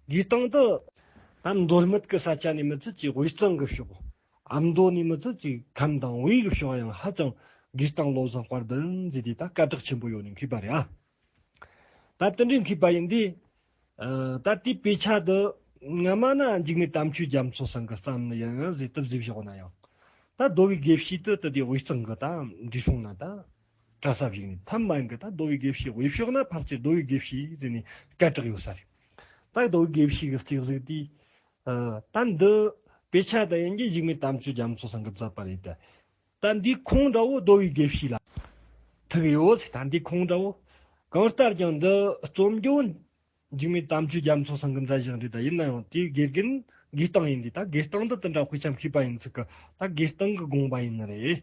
དགེ་སྟོང་དེ། ཨ་མདོ་སྨད་ཀྱི་ས་ཆ་ནས་མི་ཚུལ་གྱིས་དབུས་གཙང་གི་ཕྱོགས། ཨ་མདོ་ནས་མི་ཚུལ་གྱིས་ཁམས་དང་དབུས་ཀྱི་ཕྱོགས་ཡང་ཧ་ཅང་དགེ་སྟོང་བློ་བཟང་དཔར་ལྡན་མཛེས་དེ་ད་སྐད་གྲགས་ཆེན་པོ་ཡོང་ནས་འཁེལ་པ་རེད་ཨ། ད་ལྟ་འདྲེན་མཁས་པ་ཡིན་དུས། ད་ལྟའི་དཔེ་ཆ་དུ། ང་སྨྲ་ན་འཇིགས་མེད་དམ་ཆོས་རྒྱ་མཚོ་སང་གི་རྩམ་ནི་ཡང་ཡང་བཟི་དུ་བཟི་བཞག་ན་ཡང། ད་རྡོ་བའི་དགེ་བཤེས་དུ་དུ་དེ་དབུས་གཙང་གི་ད་འབྲི་ཤོང་ན་ད། གྲྭ་ས་བཞུགས་ནས་ཐམ་མན་གི་ད་རྡོ་བའི་དགེ་བཤེས་དབུས་ཕྱོགས་ན་ཕར་ཚེ་རྡོ་བའི་དགེ་བཤེས་ཟེར་ནས་སྐད་གྲགས་ཡོད་ས་རེད། ད་རྡོ་བའི་དགེ་བཤེས་ཀྱི་རྩིག་གཟིགས་དེ། ད་འདི། དཔེ་ཆ་དུ་ཡིན་གྱི་འཇིགས་མེད་དམ་ཆོས་རྒྱ་མཚོ་སང་གི་བཛད་པ་རེད་དེ། དང་འདི་ཁོང་འདྲ་བོ་བསྡོ་བའི་དགེ་བཤེས་ལ། ཐུག་ཡོད། དང་འདི་ཁོང་འདྲ་བོ། གང་ལྟར་ཀྱང་འདི་རྩོམ་སྒྱུར་འཇིགས་མེད་དམ་ཆོས་རྒྱ་མཚོ་སང་གི་མཛད་བཞག་འདི་དག་ཡིན་ན་ཡང་དེའི་དགེ་རྒན་དགེ་སྟངས་ཡིན་དུས་ད་དགེ་སྟངས་འདི་དེ་འདྲ་དཔེ་ཆའམ་ཤེས་པ་ཡིན་ཚུལ་གྱི་ད་དགེ་སྟངས་གི་དགོངས་པ་ཡིན་ནི་རེད།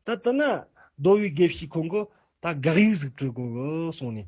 ད་དེ་ན་བསྡོ་བའི་དགེ་བཤེས་ཁོང་གིས་ད་དགག་ཡིག་གཟིགས་དྲི་གོ་གསུངས་ནས།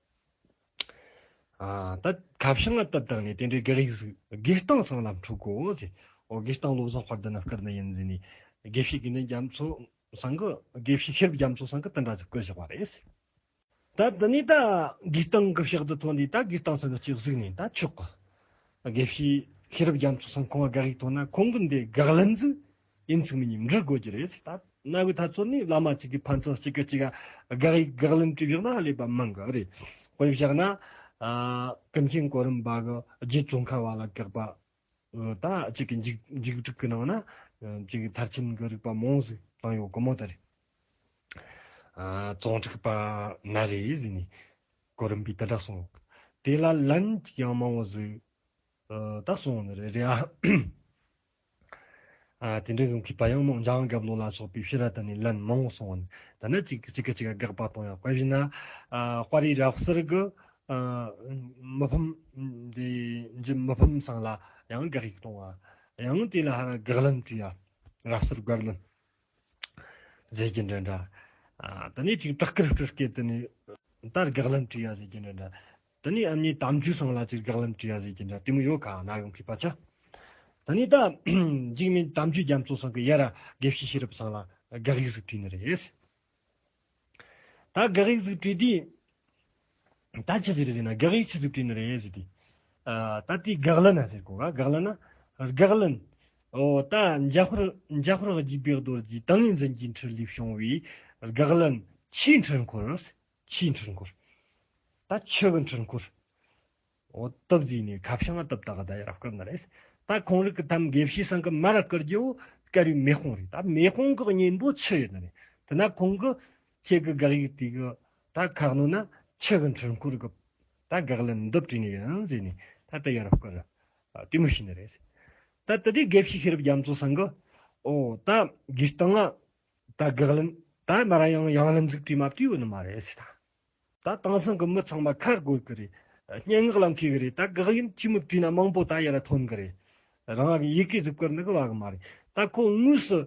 ད་གབ་ཤ་ང་བཏབ་དང་ནི་དེ་འདྲའི་ག་རིགས་གཟུགས། དགེ་སྟོང་སྲང་ལམ་འཁྲུག་གོ་ཟེར། ཨོ་དགེ་སྟོང་བློ་བཟང་བར་དུ་ན་བསྐུར་ན་ཡིན་ཟེར་ནས། དགེ་བཤེས་དགེ་འདུན་རྒྱ་མཚོ་སང་གི་དགེ་བཤེས་ཤེས་རབ་རྒྱ་མཚོ་སང་གི་དུ་འདྲ་ཟེར་བསྐུར་བཞག་པ་རེད། ད་དེ་ནས་ད་དགེ་སྟོང་གི་ཕྱག་རྡུལ་ཐོགས་ནས་ད་དགེ་སྟོང་སང་གི་སྤྱི་གཟུགས་ནས་ད་ཆོག་གི། དགེ་བཤེས་ཤེས་རབ་རྒྱ་མཚོ་སང་ཁོང་ག་རིགས་མཐོང་ན་ཁོང་གི་འདི་དགག་ལན་ཟིག་དབྱིན་ཚིག་མི་ཉིས་འབྲི་དགོས་ཀྱི་རེད། ད་གནའ་བོའི་ཐ་ཚོད་ནི་བླ་མ་གཅིག་གི་ཕན་ཚུན་གཅིག་གི་གཅིག་ལ་དགག་དབྱེ་དགག་ལན་བྲིས་བཞག་ན་ལེགས་པ་མི་འགའ་རེ། དཔེར་བཞག་ན། ཀུན་མཁྱེན་གོ་རིམ་པ་གི་རྗེ་བཙུན་མཁར་བ་ལ་དགག་པ་ད་གཅིག་གི་འཇིགས་བསྒྲིགས་ཀྱི་ནང་ན་གཅིག་གི་མཐར་ཕྱིན་གྱི་རིགས་པ་མང་ཟིག་བཏང་ཡོད་དགོས་མོ་ད་རེད། ཙོང་ཁྲག་པ་ན་རེ་ཟིག་ནས་གོ་རིམ་པས་དེ་འདྲ་གསུངས་ཡོད། དེ་ལ་ལན་གཅིག་ཡང་མང་བོ་ཟིག་ད་གསུངས་ཡོད་ནི་རེད་རེད་ཨ། དེ་འདྲའི་གང་གི་བ་ཡང་རྣོ་འཇང་གབ་ལོ་ལ་སོགས་པའི་ཤི་ར་དང་ནི་ལན་མང་བོ་སོང་བ་ནི་ད་ནི་གཅིག་གི་གཅིག་གི་དགག་པ་གཏོང་ཡང་དཔེ་བཞིན་ན་དཔའ་རིས་རབ་གསལ་གི་མི་ཕམ་འདི་འཇིམ་མི་ཕམ་སང་ལ་ཡང་དགག་ཡིག་གཏོང་བ་ཡང་དེ་ལ་དགག་ལན་དུ་ཡང་རབ་གསལ་དགག་ལན་ཟེར་གྱི་འདྲ་འདྲ་ད་ནི་ཅིག་སྟག་སྐད་སྤྲུལ་སྐད་དུ་ནི་ད་དགག་ལན་དུ་ཡང་ཟེར་གྱི་འདྲ་འདྲ། ད་ནི་ཨ་མྱེས་དམ་ཆོས་སང་ལ་ཅིག་རྒྱག་ལམ་བྲིས་ཡ་ཟེར་གྱིན་འདྲ་དེ་མོ་ཡོད་ག་ན་ཡོང་གི་བ་ཅག་ད་ནི་ད་འཇིགས་མེད་དམ་ཆོས་རྒྱ་མཚོ་སང་གི་ཡ་ར་དགེ་བཤེས་ཤེས་རབ་སང་ལ་དགག་ཡིག་ཟིག་བྲིས་ནི་རེད་ད་དགག་ཡིག་ཟིག་བྲིས་དུས་ད་ཅི་ཟེར་ཟེར་ན་དགག་ཡིག་ཆི་ཟིག་བྲིས་ནི་རེད་ཟེར་དུས་ད་དེ་དགག་ལན་ཨ་ཟེར་གོ་ག་དགག་ལན་ཨ་དགག་ལན་ཨོ་ད་འཇའ་ཧོར་འཇའ་ཧོར་གྱི་བེག་རྡོར་གྱི་ཏིང་ངེ་འཛིན་གྱི་འཁྲིར་ལུས་བྱུང་བའི་དགག་ལན་ཆེས་འཁྲིར་འཁོར་ཕྱིའི་འཕྲུལ་འཁོར་ད་ཕྱི་གི་འཕྲུལ་འཁོར་འོ་དོ་བཟོས་ནས་ཁ་བྱང་ཨ་དོབ་ད་ག་ད་ཡ་རབ་སྐབས་ན་རེད་ད་གོང་རིག་གི་ཐམ་དགེ་བཤེས་སང་གི་མ་ར་བསྐུར་རྒྱུ་སྐལ་རིའི་མེ་དཔུང་རེད་ད་མེ་དཔུང་གི་གཉེན་པོ་ཕྱི་ཡོད་ན་རེད་དེ་ན་ཁོང་གི་ཁྱེད་གི་དགག་ཡིག་དེ་གི་ད་ཁག་ནོ་ན་ཕྱི་གི་འཕྲུལ་འཁོར་གི་ད་དགག་ལན་མདོ་བྲིས་ནས་ཡིན་བཟོས་ནས་ད་ད་ཡ་རབ་སྐུར་ར་བསྟུད་མུ་བྱས་ན་རེད་ད་དེ་དགེ་བཤེས་ཤེས་རབ་རྒྱ་མཚོ་སང་གི་འོ་ད་དགེ་སྟང་ཨ་ད་དགག་ལན། ད་མ་ར་ཡང་ཡང་ལ་འཛུགས་དུས་མ་བསྟུས་བོ་ནི་མ་རེད་ཟེར་ད། ད་དེང་སང་གི་མི་ཚང་མ་ཁ་དགོས་གི་རེད། སྙན་ངག་ལ་མཁས་གི་རེད་ད་དགག་ཡུན་གཅིག་མི་བསྟུས་ན་མང་པོ་ད་ཡ་ར་ཐོན་གི་རེད། རང་གི་ཡི་གེ་གཟུགས་སྐར་འདི་གི་བ་གི་མ་རེད་ད་ཁོ་དངོས་སུ་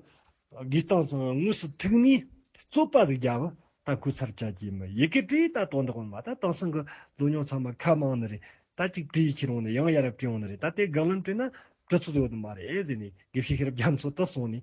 དགོས་སྟངས་སང་དངོས་སུ་ཐུག་ནས་རྩོད་པ་ཟིག་རྒྱབ་ད་ཁོ་ཚར་བཅད་ཀྱི་མི་ཡི་གེ་བྲིས་ད་དོན་དག་མ་ད་དེང་སང་གི་ལོ་ཉོག་ཚང་མ་ཁ་མང་ནི་རེད་ད་གཅིག་བྲིས་ཁྱེད་རང་ནི་ཡང་ཡ་ར་བྲིས་ཡོང་ནི་རེད་ད་དེ་དགག་ལན་བྲིས་ན་གྲུ་ཚོད་ཡོད་ནི་མ་རེད་ཟེར་ནས་དགེ་བཤེས་ཤེས་རབ་རྒྱ་མཚོ་དག་སོང་ནས།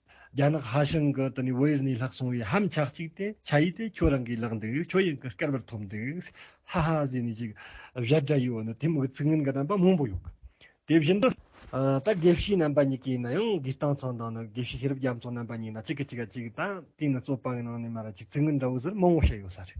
རྒྱ་ནག་ཧྭ་ཤང་གི་དེ་ནས་བོད་ཡུལ་ནས་ལྷག་སོང་བའི་ཧམ་ཆག་ཅིག་དེ་ཆ་ཡིས་དེ་ཁྱོད་རང་གིས་བརླག་འདུག་ཁྱོད་ཡིན་གི་སྐལ་བར་ཐོབ་འདུག་ཧ་ཧ་ཟེར་ནས་ཅིག་བཞག་དགྲ་ཡིས་འོ་ན་དེ་མི་གི་ཚིག་ངན་གྱི་རྣམ་པ་མང་པོ་ཡོད་གི་དེ་བཞིན་དུ། ད་དགེ་བཤེས་རྣམ་པ་གཉིས་ཀའི་ནང་ཡང་དགེ་སྤྲང་ཚང་དང་ནི་དགེ་བཤེས་ཤེས་རབ་རྒྱ་མཚོ་རྣམ་པ་གཉིས་ནང་གཅིག་གི་གཅིག་ག་གཅིག་དང་དེ་ནི་རྩོད་པའི་ནང་ནས་མ་ར་ཅིག་ཚིག་ངན་འདྲ་བོ་ཟེར་མང་བོ་བཤད་ཡོད་ས་རེད།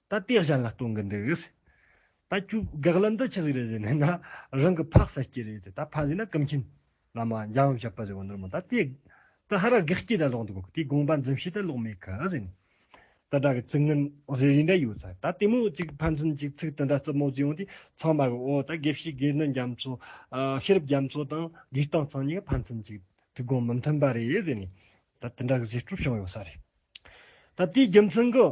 ད་དེ་གཞན་ལ་སྟོན་གི་འདུག་གིས། ད་ཁྱོད་དགག་ལན་འདི་ཅི་ཟིག་རེད་ཟེར་ནས་ན་རང་གི་ཕག་ཟ་སྐྱེ་རེད་ཟེར་ད་ཕ་ཟེར་ན་ཀུན་མཁྱེན་བླ་མ་འཇམ་དབྱངས་བཞད་པ་ཟེར་བ་འདིར་མོ་ད་དེ་ད་ཧ་ར་དགག་སྐྱེ་ད་ལོག་འདུག་གིས་དེའི་དགོངས་པ་འཛིན་བྱེད་ད་ལོག་མེད་གི་ཟེར་ནས་ད་སྒྲ་གི་ཚིག་ངན་ཟེར་རིན་འདྲ་ཡོད་ཚ་ད་དེ་མོ་ཅིག་ཕན་ཚུན་གྱི་ཚིག་དེ་འདྲ་རྩུབ་མོ་བརྫི་ཡོང་དུས་ཚང་མ་གིས་འོ་ད་དགེ་བཤེས་དགེ་ནི་རྒྱ་མཚོ་ཤེས་རབ་རྒྱ་མཚོ་དང་དགེ་སྟོང་ཚང་གཉིས་ཀ་ཕན་ཚུན་གྱི་ཐུགས་དགོངས་མི་མཐུན་པ་རེད་ཟེར་ནས་ད་དེ་འདྲ་གི་བཟོད་སྤྲོ་བྱུང་ཡོད་ས་རེད། ད་དེའི་རྒྱུ་མཚན་གིས་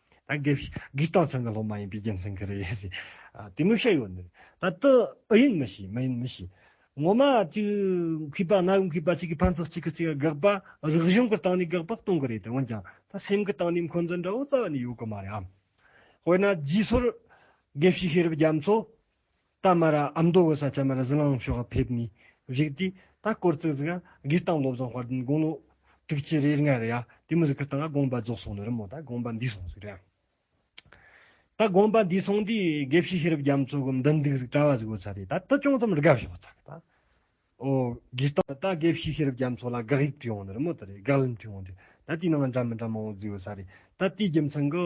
དགེ་སྟོང་ཚང་གི་སློབ་མ་ཡིན་པའི་རྒྱུ་མཚན་གྱིས་རེད། དེ་མི་ཤེས་ཡོད་ནི། ད་དུ་ཨུ་ཡིན་མི་ཤེས་མི་ཡིན་མི་ཤེས། ངོ་མ་གཅིག་གུས་པ་ང་གུས་པ་གཅིག་གིས་ཕན་ཚོགས་གཅིག་གིས་གཅིག་ལ་དགག་པ་རིག་གཞུང་གི་སྟེང་ནས་དགག་པ་གཏོང་གི་རེད་དེ་འོན་ཀྱང་ད་སེམས་ཀྱི་སྟེང་ནས་འཁོན་འཛིན་འདྲ་བོ་རྩ་བ་ནས་ཡོད་ཀྱི་མ་རེད་ཨང། དཔེར་ན་རྗེས་སོར་དགེ་བཤེས་ཤེས་རབ་རྒྱ་མཚོ་རྟ་དམར་ར་ཨ་མདོ་བོད་ས་ཆ་མེད་ར་ཟི་ལང་ལུང་ཤོག་ཕེབས་ནས་བཞུགས་དུས་ད་སྐོར་བཙུགས་ཟིག་ཨ་སྒེར་དང་སློབ་བཟང་བར་དུ་དགུང་ལོ་དྲུག་ཅུ་རེ་ལྔ་རེ་ཡ་དེ་མུ་ཟི་ཁུ་དང་ཨ་དགོངས་པ་རྫོགས་སོང་ནི་རི་མོ་ད་དགོངས་པ་འདིས་སོང་ཟིག་ར་ད་དགོངས་པ་འདིས་སོང་དུས་དགེ་བཤེས་ཤེས་རབ་རྒྱ་མཚོ་གི་མདུན་འདུག་ཟིག་གྲྭ་བ་ཟིག་བོད་ས་རེད་ད་ད་ཅུང་ཙམ་རི་ག་ཞོག་ཚར་ད་ཨོ་སྒེར་དང་ད་དགེ་བཤེས་ཤེས་རབ་རྒྱ་མཚོ་ལ་དགག་དབྱིབས་དྲི་བའང་ནི་རི་མོ་ད་རེད་དགག་ལན་དྲི་བའང་དྲི་ད་དེའི་ནང་ང་འདྲ་མི་འདྲ་མང་བོ་བརྫིས་བོད་ས་རེད་ད་དེའི་རྒྱུ་མཚན་གི་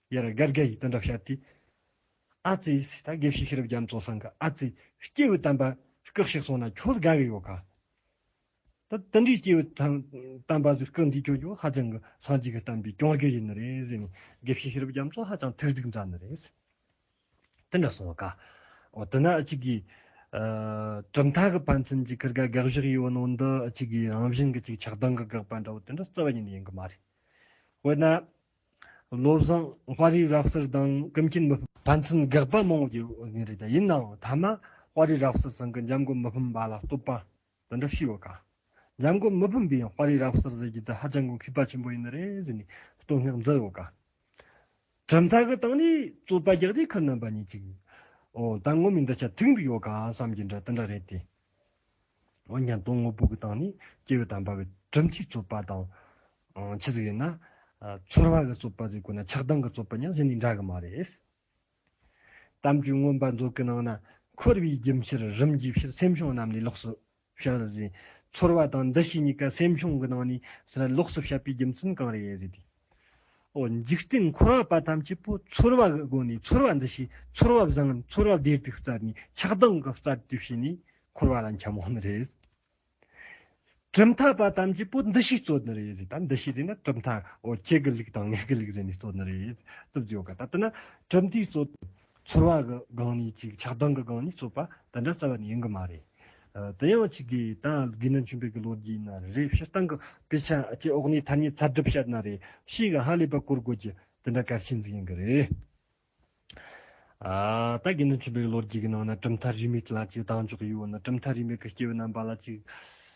ཡར་དགའ་དགའ་ཡིས་དོན་འདྲ་བཤད་དེ། ཨ་ཙི། ད་དགེ་བཤེས་ཤེས་རབ་རྒྱ་མཚོ་སང་གི་ཨ་ཙི། སྐྱེས་བུ་དམ་པ། སྐག་ཤིག་སོང་ན་ཁྱོད་དགའ་གི་ཡོད་ག། ད་དེ་འདྲའི་སྐྱེས་བུ་དང། དམ་པ་ཟིག་སྐག་འདི་ཁྱོད་ཀྱིས་ཧ་ཅང་གི་སངས་རྒྱས་ཀྱི་བསྟན་པའི་སྐྱོང་རྒྱུ་ཡིན་ནི་རེད་ཟེར་ནས་དགེ་བཤེས་ཤེས་རབ་རྒྱ་མཚོ་ཧ་ཅང་ཐེར་རྡུགས་མཛད་ནི་རེད། དེ་འདྲ་སོང་ག། འོ་དེ་ན་ཨ་ཅི་གི། གྲུབ་མཐའ་གི་ཕན་ཚུན་གྱི་ཁུར་དགའ་དགའ་བཞག་ཡོད་ནོ་འདི་ཨ་ཅི་གི་རང་བཞིན་གྱི་ཅིག་ཆགས་སྡང་གི་དགག་པ་འདྲ་བོ་དེ་འདྲ་རྩ་བ་ཉིད་ཡིན་གི་མ་རེད། དཔེར་ན། བློ་བཟང་དཔའ་རིས་རབ་གསལ་དང་ཀུན་མཁྱེན་མི་ཕམ། ཕན་ཚུན་དགག་པ་མང་བོ་ཡོད་ངེས་རེད་ཡིན་ནའང་མཐའ་མ་དཔའ་རིས་རབ་གསལ་ཟེར་མཁན་འཇམ་མགོན་མི་ཕམ་པ་ལ་བསྟོད་པ་འདི་འདྲ་ཞུས་ཡོད་ཀ། འཇམ་མགོན་མི་ཕམ་པས་དཔའ་རིས་རབ་གསལ་ཟེར་རྒྱུ་འདི་ཧ་ཅང་གི་གུས་པ་ཆེན་པོ་ཡིན་ནི་རེད་ཟེར་ནས་བསྟོད་བསྔགས་མཛད་ཡོད་ཀ། གྲུབ་མཐའ་གི་སྟེང་ནས་རྩོད་པ་རྒྱག་དུས་ཁ་ནོན་པ་གཉིས་ཅིག་ཨོ་ད་ངོ་མི་འདི་ཆ་མཐུན་གི་ཡོད་ཀ་བསམ་རྒྱུ་འདྲ་དེ་འདྲ་རེད་དེ། འོན་ཀྱང་དོན་དངོས་པོ་གི་སྟེང་ནས་སྐྱེ་བོ་དང་འབར་བའི་གྲུབ་མཐའི་རྩོད་པ་དང། ཇི་ཙམ་ཡིན་ན། ཚོར་བ་གི་རྩོད་པ་ཙམ་གོ་ན་ཆགས་སྡང་གི་རྩོད་པ་ཡང་གཞི་ནས་འདྲ་གི་མ་རེད། གཏམ་རྒྱུད་མངོན་པ་མཛོད་ཀྱི་ནང་ན་འཁོར་བའི་རྒྱུ་ཕྱིར་རིམ་གྱིས་ཕྱིར་སེམས་བྱུང་རྣམས་ལས་ལོགས་སུ་བཤད་ཟིན། ཚོར་བ་དང་འདུ་ཤེས་གཉིས་ཀ་སེམས་བྱུང་གི་ནང་ནས་ཕྱིར་ལོགས་སུ་བཤད་པའི་རྒྱུ་མཚན་གང་རེད་ཟེར་དུས། འཇིག་རྟེན་འཁོར་བ་པ་ཐམས་ཅད་པོ་ཚོར་བ་གི་སྒོ་ནས་ཚོར་བ་འདི་ཞེས་ཚོར་བ་བཟང་ངན་ཚོར་བ་བདེར་དུག་རྩ་ནི་ཆགས་སྡང་གི་རྩ་དུས་བྱས་ནས་འཁོར་བ་ལ་འཁྱམ་མོ་ནི་རེད། གྲུབ་མཐའ་པ་ཐམས་ཅད་པོ་འདི་ཞེས་རྩོད་ནི་རེད་ད་འདི་ཞེས་ཟེར་ན་གྲུབ་མཐའ་ཁྱེད་ཀྱི་ལུགས་དང་ངེད་ཀྱི་ལུགས་ཟེར་ནས་རྩོད་ནི་རེད། གྲུབ་མཐའི་ཚོར་བ་གི་སྒང་ནས་ཅིག་ཆགས་སྡང་གི་སྒང་ནས་རྩོད་པ་འདི་འདྲ་རྩ་བ་ནས་ཡིན་གི་མ་རེད། དེ་ཡང་ཆིག་གིས་ད་གིས་ན་ཆུང་དུས་ཀྱི་ལོ་རྒྱུས་ན་རེ་རེ་ཕྱིར་བཏང་གི་དཔེ་ཆ་བཅས་འོག་ནས་ཐ་སྙད་ཚབ་སྒྲུབ་བྱས་ན་རེ་ཞིག་གིས་ཧ་ལས་པ་བཀོལ་དགོས་ཀྱི་དེ་འདྲ་གལ་ཆེན་ཟིག་ཡིན་གི་རེད། ད་གིས་ན་ཆུང་དུས་ཀྱི་ལོ་རྒྱུས་ཀྱི་ནང་ན་གྲུབ་མཐའ་རིས་མེད་ལ་ཅིག་སྡང་ཕྱོགས་ཡོད་ན་གྲུབ་མཐའ་རིས་མེད་ཀྱི་སྐྱེ་བོ་རྣམ་པ་ལ་ཅིག།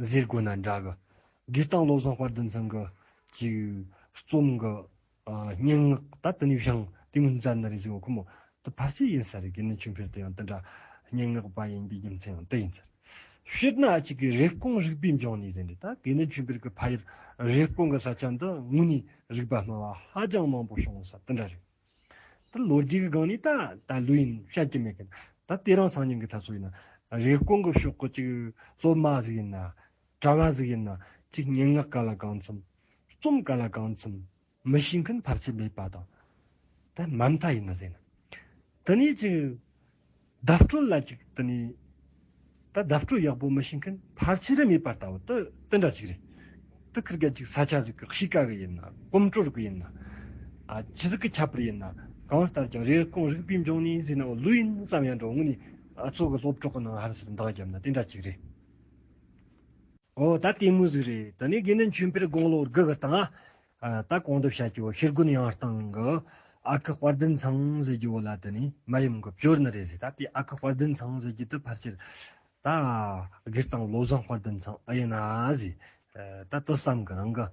གཟས་དགོས་ན་འདྲ་གི། དགོས་སྟངས་བློ་བཟང་དཔལ་ལྡན་ཚང་གི་ཅིག། རྩོམ་གི། སྙན་ངག་ད་དུ་ནུས་ཤིང་དེ་མིན་རྩ་ནི་རེད་ཟེར་བ་ཁོ་མོ། དེ་ཕར་ཆེར་ཡིན་ས་རེད་དགེ་ནི་ཆུང་ཕེར་དེ་ཡང་དེ་འདྲ། སྙན་ངག་པ་ཡིན་པའི་རྒྱུ་མཚན་ཡང་དེ་ཡིན་ས་རེད། དཔེར་ན་ཅིག་གི་རེབ་གོང་རིག་པའི་འབྱུང་གནས་ཟེར་འདི་ད་དགེ་ནི་ཆུང་ཕེར་གི་ཕ་ཡུལ་རེབ་གོང་གི་ས་ཆ་འདི་དངོས་གནས་རིག་པ་སྨྲ་བ་ཧ་ཅང་མང་པོ་བྱུང་ས་དེ་འདྲ་རེད། ད་ལོ་རྒྱུས་ཀྱི་སྒང་ནས་ད་ད་ལོའི་ཡིན་བཤད་ཀྱི་མེད་གི། ད་ལྟའི་རང་སང་ཉིན་གྱི་ད་སོ་ཡིན་ན། རེས་སྐོང་གི་ཤོག་གི་ཅིག་སློབ་མ་ཟིག་ཡིན་ན། གྲྭ་བ་ཟིག་ཡིན་ན་ཅིག་སྙན་ངག་ག་ལ་གང་འཚམས། རྩོམ་ག་ལ་གང་འཚམས་མི་ཤེས་མཁན་ཕར་ཆེར་མེད་པ་དང། ད་མ་མཐའ་ཡིན་ན་ཟེར་ན། དེ་ནས་ཅིག། བརྡ་སྤྲོད་ལ་ཅིག་བསྟུན་ནས། ད་བརྡ་སྤྲོད་ཡག་པོ་མི་བྱེད་མཁན་ཕར་ཆེར་མེད་པ་ལྟ་བུ་དེ་འདྲ་ཅིག་རེད། དེ་ཁུར་གལ་ཅིག་ས་ཆ་ཟིག་གི་གཤིས་ཀ་གི་ཡིན་ན་གོམ་བགྲོད་གི་ཡིན་ན། ཇི་ཟིག་གི་ཁྱད་པར་ཡིན་ན་གང་ལྟར་ཀྱང་རེས་སྐོང་རིག་པའི་འབྱུང་གནས་ཟིན་ན་བོ་ལུས་ཡིན་བསམ་ཡང་འགྲོ་དངོས་ནས་གཙོ་གི་སློབ་གྲོགས་ནང་ཧར་སེར་མདངས་བརྒྱབ་ན་དེ་འདྲ་ཅིག་རེད། ཨོ་ད་ལྟད་མོ་ཟིག་རེད་དེ་ནས་དགེ་འདུན་ཆོས་འཕེལ་དགུང་ལོ་དགུ་གི་སྟེང་ད་གོང་དུ་བྱ་རྒྱུ་བ་ཤེལ་སྒོན་ཡང་སྟང་གི་ཨ་ཁུ་དཔར་ལྡན་ཚང་ཟེར་རྒྱུ་བ་ལ་དེ་ནས་མ་ཡུམ་གི་བཅོལ་ནི་རེད་ཟེར་ད་དེ་ཨ་ཁུ་དཔར་ལྡན་ཚང་ཟེར་རྒྱུ་དེ་ཕར་ཆེར་ད་སྒེར་དང་བློ་བཟང་དཔར་ལྡན་ཚང་ཨེ་ཡིན་ན་ཟེར་ད་དོ་བསམ་གི་རང་གི་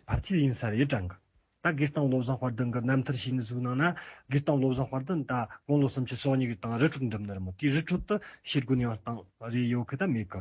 ཕར་ཆེར་ཡིན་ས་རེད་དྲན་གི་ད་སྒེར་དང་བློ་བཟང་དཔར་ལྡན་གི་རྣམ་ཐར་ཤེས་ནི་གཟུགས་ནང་ན་སྒེར་དང་བློ་བཟང་དཔར་ལྡན་ད་དགུང་ལོ་སུམ་ཅུ་སོ་གཉིས་གི་དང་རི་ཁྲོད་འགྲིམ་ནི་རེད་མོད་དེའི་རི་ཁྲོད་དུ་ཤེལ་སྒོན་ཡང་སྟང་རེད་ཡོད་གི་ད་མེད་གི་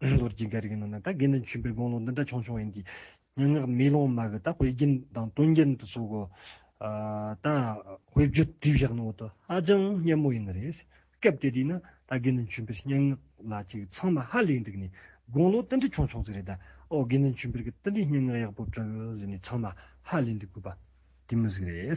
ལོར་གྱི་འགའ་རེ་གི་ནང་ན་ད་གིན་ནས་བྱོན་པའི་དགོངས་ཀློང་འདི་འདྲ་ཆུང་ཆུང་ཡིན་གྱི། སྙན་ངག་མེ་ལོང་མ་གི་ད་དཔེ་རྒྱན་དང་དོན་རྒྱན་དུ་ཟུག་གོ། ད་དཔེ་བརྗོད་བྲིས་བཞག་ནོ་ད་ཧ་ཅང་སྙན་མོ་ཡིན་ནི་རེད། སྐབས་དེ་དུས་ན་ད་གིན་ནས་བྱོན་པའི་སྙན་ངག་ལ་ཅིག་ཚང་མ་ཧ་ལས་འདུག་ནས་དགོངས་ཀློང་ཏི་འདྲི་ཆུང་ཆུང་ཟིག་རེད་ད། ཨོ་གིན་ནས་བྱོན་པའི་གི་ཏི་འདྲི་སྙན་ངག་ཡག་པོ་བྲིས་ཟིག་ནས་ཚང་མ་ཧ་ལས་འདུག་གུས་པ། དེ་མི་ཟིག་རེད།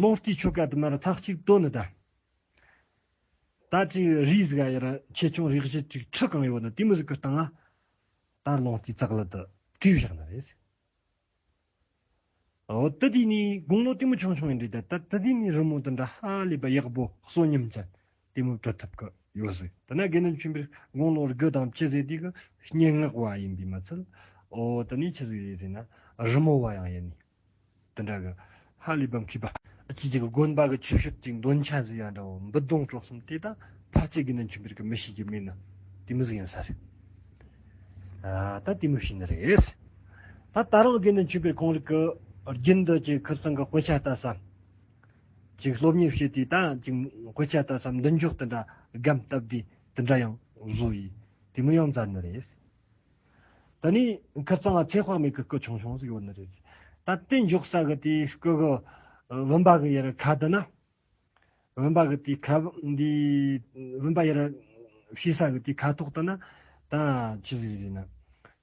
ལོང་སྟེ་ཆོ་ག་དུ་མར་ཚག་གཅིག་དོན་ནི་དང། ད་ཅིག་རིས་གཟའ་ཡི་ར་ཆེ་ཆུང་རིགས་བཞི་ཅིག་ཁྲི་གང་ཡོད་ན་དེ་མི་གཟུགས་ཀྱི་སྟེང་ལ་དར་ལོང་སྟེ་ཙག་ལི་དུ་དྲིས་བཞག་ན་རེད། དུ་དེ་ནི་དགུང་ལོ་དེ་མོ་ཆུང་ཆུང་ཡིན་དུས་ད་ལྟ་དུ་དེ་ནི་རི་མོ་དང་འདྲ་ཧ་ལས་པ་ཡག་པོ་གསོན་ཉམས་ཅན་གཏི་མུག་བྲོ་ཐབས་ཀྱི་ཡོད་ཟེར། དེ་ནས་དགེ་འདུན་ཆེན་པོས་དགུང་ལོ་དགུ་དང་བཅུ་ཟེར་དུས་ཀྱི་སྙན་ངག་བ་ཡིན་པས་མ་ཚད། འོ་དེ་ནས་ཅི་ཟེར་ཟེར་ན། རི་མོ་བ་ཡང་ཡིན། དེ་འདྲ་གི། ཧ་ལས་པའམ་མཁས་པ། ཁྱེད་ཀྱི་དགོན་པ་གི་ཆོས་ཞབས་ཀྱི་འདོན་ཆ་ཟེར་ཡང་འདྲ་བོ་འབུད་རྡུང་དཀྲོག་གསུམ་དེ་དང་ཕར་ཚད་དགེ་འདུན་ཆེན་པོའི་རིགས་ཀྱི་མི་ཞིག་གིས་སྨྲས་ན། གཏི་མུག་ཡིན་ས་རེད། ད་གཏི་མུག་ཞིག་ནི་རེད། ད་ད་རུང་དགེ་འདུན་ཆེན་པོའི་གང་རིགས་ཀྱི་རྒྱུན་འདི་ཅིག་ཁུར་ཙང་གི་དཔེ་ཆ་ལྟ་བསམ། ཅིག་སློབ་གཉེར་བྱེད་དུས་ད་ཅིག་གོད་ཆག་ལྟ་བསམ་མདུན་ཅོག་དེ་འདྲ་སྒམ་བཏབ་དུས་དེ་འདྲ་ཡང་བཟོ་ཡི་དེ་མི་ཡང་མཛའ་ནི་རེད། ད་ནི་ཁ་རྩང་བ་ཚེ་དཔག་མེད་ཀྱི་སྐུ་ཆུང་ཆུང་ཟིག་ཡོད་ནི་རེད། ད་རྟེན་འཇོག་ས་གི་དེའི་སྐུ་གི་བུམ་པ་གི་ཡར་ཁ་དེ་ན། བུམ་པ་གི་དེའི་ཁ། བུམ་པ་ཡར་ཕྱེ་ས་གི་དེའི་ཁ་དོག་དེ་ན་ད་ཅི་ཟིག་ཟེར་ན།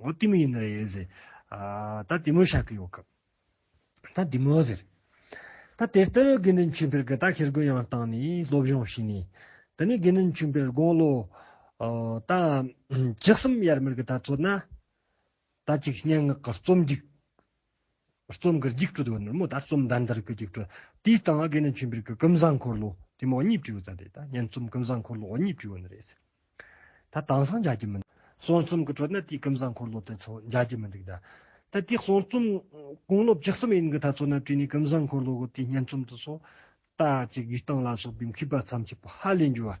ངོ་ཏི་མོ་ཡིན་ན་རེད་ཟེར། ད་དེ་མོ་ཤག་གི་ཡོང་སྐབས། ད་དེ་མོ་ཟེར། ད་དེ་ལྟར་དགེ་འདུན་ཆོས་འཕེལ་གྱི་རྟགས་ཤེལ་སྒོའི་ཡང་བཏང་ནས་སློབ་སྦྱོང་བྱས་ནས། ད་ནི་དགེ་འདུན་ཆོས་འཕེལ་དགུང་ལོ། ད། བཅུ་གསུམ་ཡར་མར་གྱི་ད་ཚོད་ན། ད་ཅིག་སྙན་ངག་གི་རྩོམ་སྒྲིག། རྩོམ་གྱི་རྒྱུགས་སྤྲོད་དུ་ནི་མོ་ད་རྩོམ་འདི་འདིར་གྱི་རྒྱུགས་སྤྲོད་དེའི་སྟེང་ཨ་དགེ་ནི་མཆོད་འབུལ་གྱི་ཀུན་བཟང་འཁོར་ལོ་དེ་མོ་གཉིས་བྲིས་ཡོད་ཙང་དེ་ད་སྙན་རྩོམ་ཀུན་བཟང་འཁོར་ལོ་གཉིས་བྲིས་ཡོད་ནི་རེད་ཟེར། ད་དེང་སང་མཇལ་གྱི་མི་འདུག། གསུང་རྩོམ་གྱི་ཁྲོད་ནི་དེའི་ཀུན་བཟང་འཁོར་ལོ་དེ་ཚོ་མཇལ་གྱི་མི་འདུག་ད། ད་དེའི་གསུང་རྩོམ་དགུང་ལོ་བཅུ་གསུམ་ཡན་གྱི་ད་ཚོ་ནི་བྲིས་ནས་ཀུན་བཟང་འཁོར་ལོ་གི་དེའི་སྙན་རྩོམ་དུ་སོ། ད་ཀྱི་གུས་སྟངས་ལ་སོགས་པའི་མཁས་པ་མཚམས་ཆད་པོ་ཧ་ལས་འགྱུར་བ་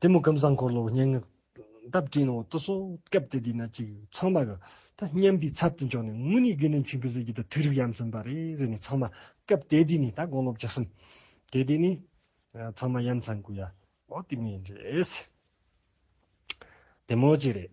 དེ་མོ་ཀུན་བཟང་འཁོར་ལོ་སྙན་ངག་འདབ་སྤྲིན་འོག་ཏུ་སོ་སྐབས་དེ་དུས་ན་ཅིག་ཚང་མ་གི། ད་སྙམ་པའི་ཚབ་ཏུ་འཇོག་ནས་དངོས་གནས་དགེ་འདུན་ཆོས་འཕེལ་ཟེར་གྱི་ད་དུས་རིག་ཡམ་ཟིན་པ་རེད་ཟེར་ནས་ཚང་མ་སྐབས་དེ་དུས་ནས་ད་དགོངས་སློབ་རྒྱག་བསམ། དེ་དུས་ནས་ཚང་མ་ཡམ་ཚང་དགོས་ཡ། འོ་དེ་མིན་རེད། དེ་མོ་ཅིག་རེད།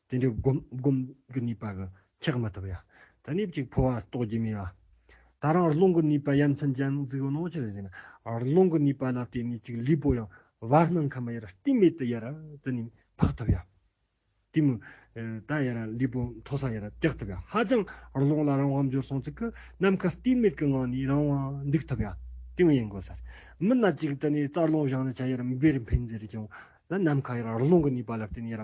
དེ་འདྲའི་སྒོམ་གྱི་ནུས་པ་གི་ཁྱད་མི་ཐོབ་ཡ། ད་ནི་གཅིག་འཕོ་བ་རྟོགས་ཀྱི་མེད། ད་རང་རླུང་གི་ནུས་པ་ཡ་མཚན་ཅན་གཟིགས་རྣོ་ཆེར་བཞེངས་ན། རླུང་གི་ནུས་པ་ལ་བརྟེན་ནས་གཅིག་ལུས་པོ་ཡང་བར་སྣང་ཁམས་ཡར་སྟེང་མེད་དུ་ཡར་དུ་ནི་འཕགས་ཐུབ་ཡ། དེ་མུར་ད་ཡར་ལུས་པོ་མཐོ་ས་ཡར་བཏེག་ཐུབ་ཡ། ཧ་ཅང་རླུང་ལ་རང་དབང་འབྱོར་སོང་ཚིག་གི་ནམ་མཁའ་སྟེང་མེད་ཀྱི་ངང་ནས་རང་དབང་འདུག་ཐུབ་ཡ། དེ་ཡང་ཡིན་དགོས་ཟེར། མི་སྣ་གཅིག་དུ་ནི་རྩར་རླུང་བཞག་ན་ཆ་ཡར་འབེར་འཕེན་ཟེར་ཀྱང། ནམ་མཁའ་ཡར་རླུང་གི་ནུས་པ་ལ་བརྟེན་ནས་ཡར་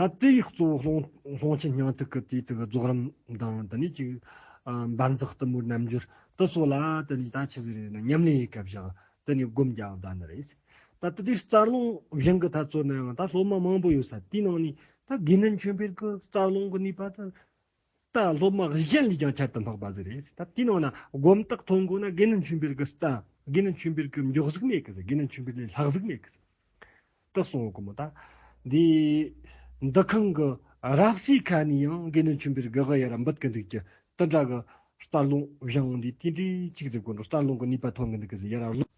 ད་ལྟའི་གཙོ་བོ་སློང་ཆེན་སྙིང་ཐིག་གི་དུས་དེར་རྫོགས་རིམ་དང་དེ་ནས་ཀྱི་འབར་འཛག་གཏུམ་མོའི་རྣམ་འགྱུར་དུ་སོགས་ལ་དེ་ནས་ད་ཕྱིན་རེ་ནས་ཉམས་ལེན་ཡི་གེ་བཞག་དེ་ནས་བསྒོམ་རྒྱག་བཟླ་འདི་རེད། ད་ལྟ་དེའི་རྩ་རླུང་བཞེངས་ཀྱི་ཐབས་ཚོལ་ནའང་ད་སློབ་མ་མང་པོ་ཡོད་ས་དེའི་ནང་ནས་ད་དགེ་འདུན་ཆོས་འཕེལ་གྱི་རྩ་རླུང་གི་ནུས་པ་དེ་རྟ་སློབ་མ་བཞི་གཞན་ལས་ཀྱང་ཁྱད་དུ་འཕགས་པ་ཟེར་རེད། ད་དེའི་ནང་ན་སྒོམ་རྟགས་མཐོང་དགོས་ན་དགེ་འདུན་ཆོས་འཕེལ་གྱི་རྟ། དགེ་འདུན་ཆོས་འཕེལ་གྱི་མགྱོགས་གཟིགས་མེད་གི་ཟེར་དགེ་འདུན་ཆོས་འཕེལ་ལས་ལྷག་གཟིགས་མེད་གི་ཟེར། དེ་གསུངས་དགོས་མོད་ད། འདི། འདི་ཁང་གི་རབ་གསེས་ཁ་ནས་ཡང་དགེ་འདུན་ཆོས་འཕེལ་གྱི་ག་ཡར་འབུད་གི་འདུག་ཀྱི། དེ་འདྲ་གི་རྩར་ལུང་བཞེངས་འདི་དེ་འདྲའི་ཆིག་སྒྲིལ་དགོས་འདུག་རྩར་ལུང་གི་ནུས་པ་ཐོན་གི་འདུག་གི་ཟེར་ཡར་ལུང།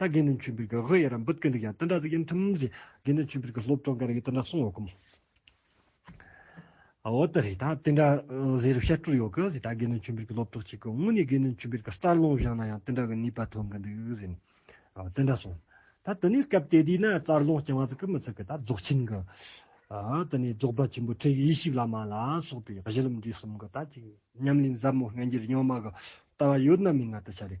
ད་དགེ་འདུན་ཆོས་འཕེལ་གྱི་དབུ་ཡར་འབུད་ཀྱི་འདུག་ཡང་དེ་འདྲ་ཟིག་ཡིན་ཐུབ་མིན་ཞེས་དགེ་འདུན་ཆོས་འཕེལ་གྱི་སློབ་གྲོགས་འགའ་རེ་ཡིས་དེ་འདྲ་གསུངས་ཡོད་སྐོམ། འོ་ད་རེད་ད་དེ་འདྲ་ཟེར་རུ་བཤད་སྤྲོ་ཡོད་གི་ཟིན་ད་དགེ་འདུན་ཆོས་འཕེལ་གྱི་སློབ་གྲོགས་གཅིག་གིས་དངོས་གནས་དགེ་འདུན་ཆོས་འཕེལ་གྱི་རྩར་ལོངས་བཞག་ན་ཡང་དེ་འདྲ་གི་ནུས་པ་ཐོན་གྱི་འདུག་ཟིན། དེ་འདྲ་སོང། ད་དེ་ནས་སྐབས་དེ་དུས་ན་རྩར་ལོངས་སྐྱེ་བ་ཟིག་གི་མི་ཚིག་གི་ད་རྫོགས་ཆེན་གྱི། དེ་ནས་རྫོགས་པ་ཆེན་པོ་ཁྲིད་ཡེ་ཤེས་བླ་མ་ལ་སོགས་པའི་གཞི་ལམ་འབྲས་གསུམ་གྱི་ད་ཅིག་ཉམས་ལེན་ཟབ་མོ་རྣལ་འབྱོར་རྙིང་མ་གི་ལྟ་བ་ཡོད་ན་མིན་ན་དེ་ཆ་རེད།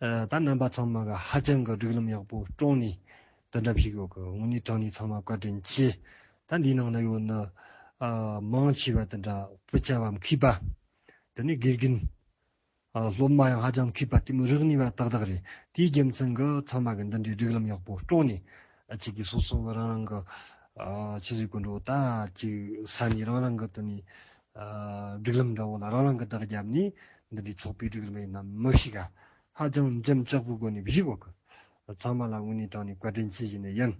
ད་རྣམ་པ་ཚང་མ་ག་ཧ་ཅང་གི་སྒྲིག་ལམ་ཡག་པོ་བཀྲོངས་ནས་དེ་འདྲ་བྱེད་དགོས་གི་དངོས་གནས་དྲང་གནས་ཚང་མ་བཀའ་དྲིན་ཆེ་ད་འདིའི་ནང་ན་ཡོད་ནི་མང་ཆེ་བ་དེ་འདྲ་བུ་ཆ་བ་མཁས་པ་དེ་ནས་དགེ་རྒན་སློབ་མ་ཡང་ཧ་ཅང་མཁས་པ་ལྟད་མོ་རིག་ནུས་པ་ཏག་ཏག་རེད་དེའི་རྒྱུ་མཚན་གི་ཚང་མ་གི་འདི་འདྲའི་སྒྲིག་ལམ་ཡག་པོ་བཀྲོངས་ནས་ཁྱེད་ཀྱི་སོ་སོ་གི་རང་རང་གི་ཕྱི་སྲིད་སྐུ་མགྲོན་ད་ཅིག་ས་ནས་རང་རང་གི་དེ་ནས་སྒྲིག་ལམ་འདྲ་བོ་ལ་རང་རང་གི་བརྡ་བརྒྱབ་ནས་འདི་འདྲའི་ཚོགས་པའི་སྒྲིག་ལམ་ཡིན་ནམ་མི་ཤེས་ག། ཧ་ཅང་འཇམ་ལྕག་པོའི་སྒོ་ནས་བཞུགས་བ་ཀི། ཚང་མ་ལ་དངོས་གནས་དྲངས་ནས་བཀའ་དྲིན་ཆེ་བཞེས་ནས་ཡིན།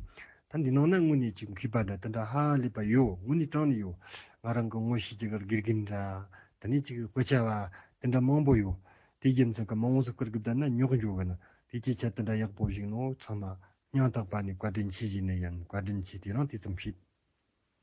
ད་འདི་ནང་ན་དངོས་གནས་ཀྱི་མཁས་པ་འདྲ་དེ་འདྲ་ཧ་ལས་པ་ཡོད་དངོས་གནས་དྲངས་ནས་ཡོད། ང་རང་གི་དངོས་གཞི་ཀྱི་གར་དགེ་རྒན་འདྲ། དེ་ནས་ཅིག་དཔེ་ཆ་བ། དེ་འདྲ་མང་པོ་ཡོད། དེའི་རྒྱབ་མཚམས་ཀྱི་མ་འོངས་སུ་གར་དགེ་བསྡད་ན་རྙོག་འཇོག་གི་ན་དེའི་སྐད་ཆ་དེ་འདྲ་ཡག་པོ་བཞིག་ནོ་ཚང་མ། སྙང་ཐག་པ་ནས་བཀའ་དྲིན་ཆེ་བཞེས་ནས་ཡིན་བཀའ་དྲིན་ཆེ་དེ་རང་དེ་ཙམ་ཤེས།